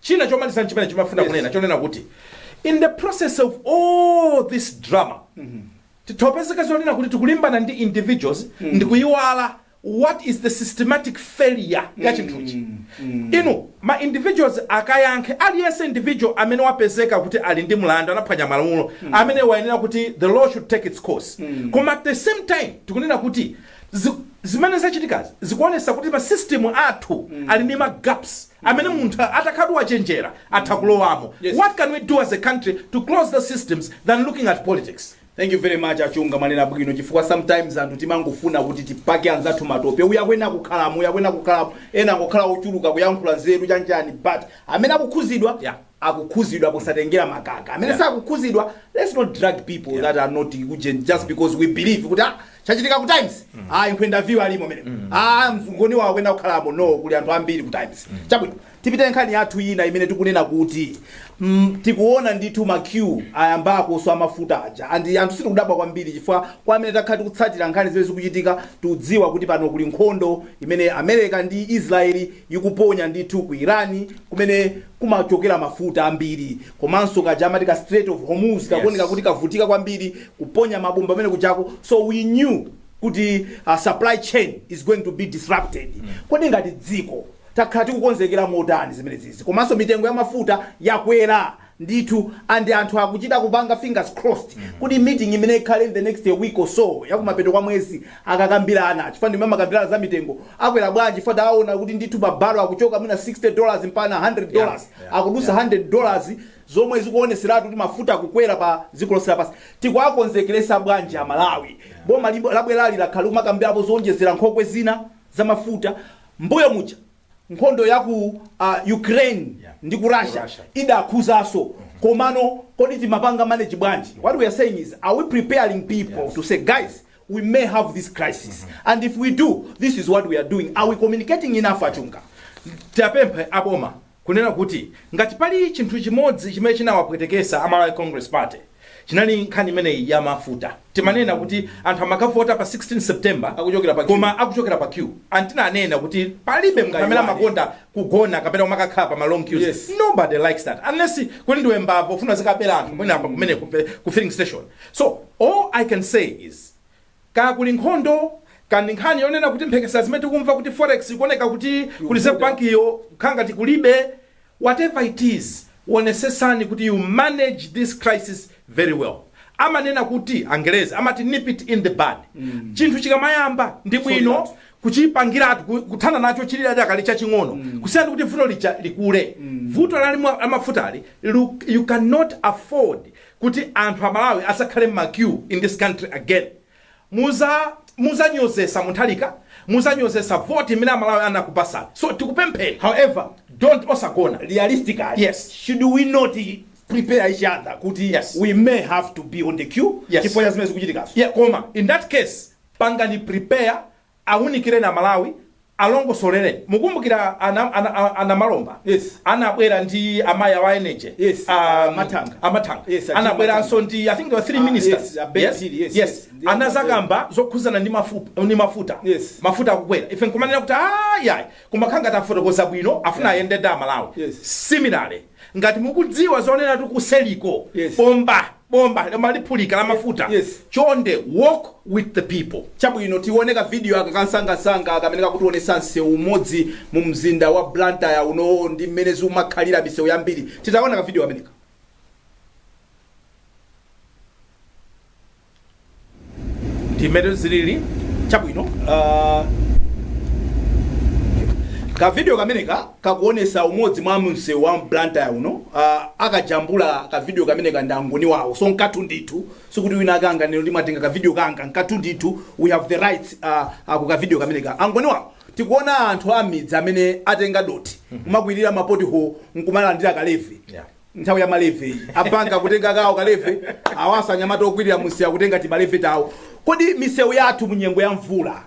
China chomaliza chimene ndimafuna kunena zonena kuti in the process of all this drama titha kupezeka zonena kuti tikulimbana ndi individuals ndikuyiwala what is the systematic failure ya chinthuchi inu ma individuals akayankhe aliyense individual amene wapezeka kuti ali ndi mlandu anaphwanya malamulo amene wayenera kuti the law should take its course koma at the same time tikunena kuti zi- zimene zachitikazi zikuonesa kuti masystem athu ali ndi magaps amene munthu atakhalatu wachenjera atha kulowamo. Yes. What can we do as a country to close those systems than looking at politics? Thank you very much Achunga mwanena bwino chifukwa sometimes anthu timangofuna kuti tipake anzathu matope uja akuyenera kukhalamo uja akuyenera kukhalamo ena ngokhala ochuluka kuyankhula nzeru chanjani but amene akukhuzidwa Yeah. akukhuzidwa kusatengera makaka amene Yeah. sakukhuzidwa let's not drag people that are not ujeni just because we believe kuti ah, chachitika ku times ah inkwenda view alimo mene ah mzungoni wawo akuyenera kukhalamo no kuli anthu ambiri ku times chabwino tipite nkhani yathu ina imene tikunena kuti mm, tikuona ndithu ma queue ayambakonso amafuta aja and anthu sitikudabwa kwambiri chifukwa kwa amene takhala tikutsatira nkhani zimene zikuchitika tikudziwa kuti pano kuli nkhondo imene america ndi israeli ikuponya ndithu ku irani kumene kumachokera mafuta ambiri komanso kaja amati ka strait of hormuz kakuoneka Yes. kuti kavutika kwambiri kuponya mabomba amene kujako so we knew kuti uh, supply chain is going to be disrupted kodi ngati dziko takhala tikukonzekera motani zimenezizi komanso mitengo ya mafuta yakwera ndithu and anthu akuchita kupanga fingers crossed kuti meeting imene ikhale in the next week or so yakumapeto kwa mwezi akakambirana chifukwa ndimene amakambirana za mitengo akwera bwanji chifukwa tawaona kuti ndithu pa barrel akuchoka mwina 60 dollars mpaka 100 Yeah, dollars yeah, akudusa yeah. 100 dollars zomwe zikuoneseratu kuti mafuta akukwera pa dziko lonse lapansi tikuwakonzekeresa bwanji amalawi boma libo- labwerali lakhala likumakambirapo zoonjezera nkhokwe zina za mafuta mbuyo muja nkhondo ya ku uh, ukraine Yeah. ndi ku russia Russia. idakhuzaso komano kodi timapanga manage bwanji what we are saying is are we preparing people Yes. to say guys we may have this crisis and if we do this is what we are doing are we communicating enough achunga tiwapemphe aboma kunena kuti ngati pali chinthu chimodzi chimene chinawapwetekesa a malawi congress party Chinali nkhani imeneyi ya mafuta. Timanena kuti anthu amakavota pa 16 September Akuchokera pa queue. koma akuchokera pa queue. And tinanena kuti palibe munthu amene Mungaiwale. amakonda kugona kapena kumakakhala pa ma long queues. Yes. Nobody likes that unless kuti ndiwe mbava ufuna uzikabera anthu mwina apa kumene ku pe- ku filling station. So all I can say is Kaya kuli nkhondo, kaya ndi nkhani yonena kuti mphekesera zimene tikumva kuti forex ikuoneka kuti ku reserve bank yo kukhala ngati kulibe, whatever it is, wonesetsani kuti you manage this crisis very well. Amanena kuti, angelezi amati nip it in the bud. Chinthu chikamayamba ndi bwino kuchipangiratu, ku- kuthana nacho chili chidakali chaching'ono kusiyana ndi kuti vuto lija likule. Vuto la limwa- la mafutali lu- you cannot afford kuti anthu amalawi asakhale mma queue in this country again muza muzanyozesa munthalika muzanyozesa vote imene amalawi anakupasani so tikupemphani however don't, osagona realistically yes should we not prepare each other kuti Yes. we may have to be on the queue Yes. chifukwa cha zimene zikuchitikazo Yeah. koma in that case pangani prepare Awunikireni a Malawi, alongosolereni. Mukumbukira a a Namalomba yes anabwera ndi a mayi awa a energy yes a Mathanga a Mathanga yes anabweranso ndi I think there were three ministers yes yes yes anazakamba zokhuzana ndi mafupa ndi mafuta yes mafuta akukwera ife nkumanena kuti ayi ayi koma akhala ngati afotokoza bwino afuna ayende ndi a Malawi similarly Ngati mukudziwa zoneratu kuseriko Yes. bomba bomba lomwe liphulika la mafuta Yes. chonde walk with the people chabwino tione ka video aka kansangansanga kamene kakutionesa msewu umodzi mu mzinda wa Blantyre uno ndi mmene zikumakhalira misewu yambiri titaona ka video kameneka ndimene zilili chabwino uh, kavidiyo kameneka kakuonesa umodzi mwa msewu wa blantyre uno uh, akajambula kavidiyo kameneka ndi angoni wawo so nkathu ndithu sikuti wina akanganene kuti mwatenga kavidiyo kanga nkathu ndithu we have the right uh, uh, ku kavidiyo kameneka angoni wawo tikuona anthu amidzi amene atenga dothi kumakwirira ma pothole nkumalandira ka levy Yeah. nthawi ya ma levy iyi a bank kutenga kawo ka levy awanso anyamata okwirira munsewu akutenga tima levy tawo kodi misewu yathu munyengo ya mvula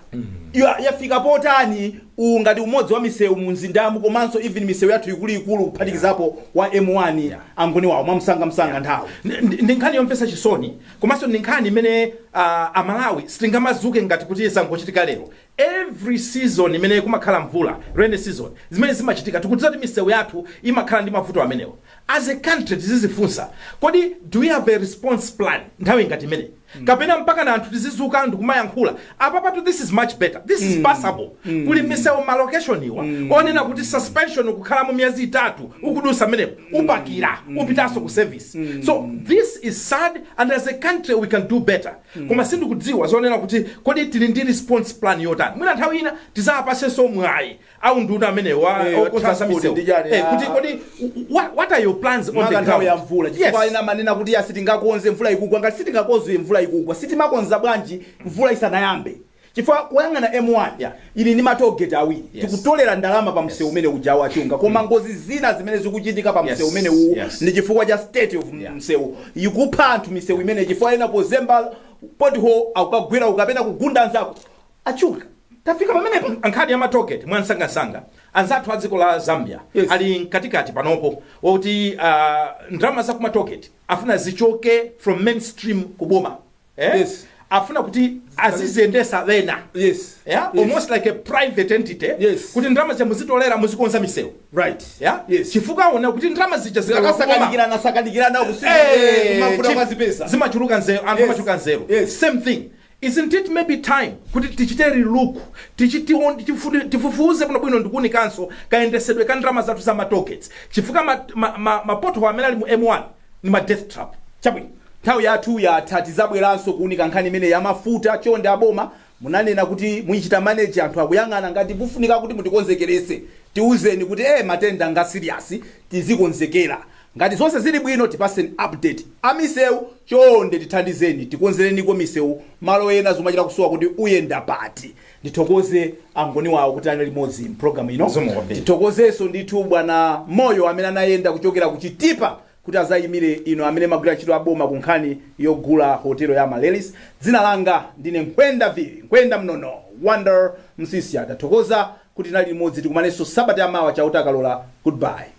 ya- yafika potani uwu ngati umodzi wa misewu munzindamu komanso even misewu yathu ikuluikulu kuphatikizapo wa m1 angoni wawo mwamsangamsanga nthawi Ndi- ndi ndi nkhani yomvetsa chisoni komanso ndi nkhani imene ah, amalawi sitingamadzuke ngati kuti zangochitika lero Every season imene kumakhala mvula, rainy season, zimene zimachitika tikudziwa kuti misewu yathu imakhala ndi mavuto amenewo. As a country tizizifunsa kodi do we have a response plan nthawi ngati imeneyi? Kapena mpakana anthu tizidzuka ndikumayankhula? Apapatu this is much better, this is passable. Kuli misewu ma location umu yonena kuti suspension kukhalamo miyezi itatu ukudutsa mmenemo upakila upitanso ku service. So this is sad and as a country we can do better. koma sindikudziwa zonena kuti kodi tili ndi response plan yotani mwina nthawi ina tizawapasenso mwayi aunduna amenewa Eh, oona za transport misewu ndi chani, Eh, ah. kuti kodi wha- what are your plans on the ground maka nthawi ya mvula Yes. chifukwa ena amanena kuti ya sitingakonze mvula ikugwa ngati sitingakonze mvula ikugwa sitimakonza bwanji mvula isanayambe Chifukwa kuyang'ana M1 Yeah. ili ndi ma toll gate awiri Yes. tikutolera ndalama pa msewu Yes. umene uja a Chunga koma ngozi zina zimene zikuchitika pa Yes. msewu umene uwu Yes. ndi chifukwa cha state of Yeah. msewu ikupha anthu misewu imene chifukwa ena pozemba pothole akukagwera uko kapena kugunda anzako achunga tafika pamenepa nkhani ya ma toll gate mwansangansanga anzathu a dziko la zambia Yes. ali mkatikati panopo woti uh, ndalama za ku ma toll gate afuna zichoke from mainstream kuboma eh? Yes. afuna kuti aziziyendesa ena Yes. yeah? Yes. almost like a private entity Yes. kuti ndalama zija muzitolera muzikonza misewu Right. yeah? Yes. chifukwa aona kuti ndalama zija zikapita kuboma zikasakanikirana sakanikirana kusiku mafuta kwa zipesa. zimachuluka nzeru anthu Yes. amachuluka nzeru Yes. same thing isn't it maybe time kuti tichite relook tichi- tiwon- tifu- tifufuze kuno bwino ndikuunikanso kayendesedwe ka ndalama zathu za ma toll gates chifukwa ma, ma, ma, ma pothole amene ali mu m1 ndi ma death trap chabwino nthawi yathu yatha tizabwelanso kuunika nkhani imeneyi ya mafuta chonde aboma munanena kuti muichita manage anthu akuyang'ana ngati kufunika kuti mutikonzekelese tiuzeni kuti ee matenda nga serious tizikonzekela ngati zonse zili bwino tipaseni update amiseu chonde tithandizeni tikonzeleniko miseu malo ena zomachita kusowa kuti uyenda pati Ndithokoze angoni awo kuti anali limodzi m'programu ino. Zikomo kwambiri. Tithokozenso ndithu bwana Moyo amene anayenda kuchokera ku Chitipa kuti adzayimire inu amene mumagwira ntchito aboma ku nkhani yogula hotelo ya Amaryllis. Dzina langa ndine Mkhwenda Viri, Mkhwenda Mnono, Wonder Msiska. Tathokoza kuti tinali limodzi. Tikumanenso sabata yamawa Chauta akalola. Goodbye.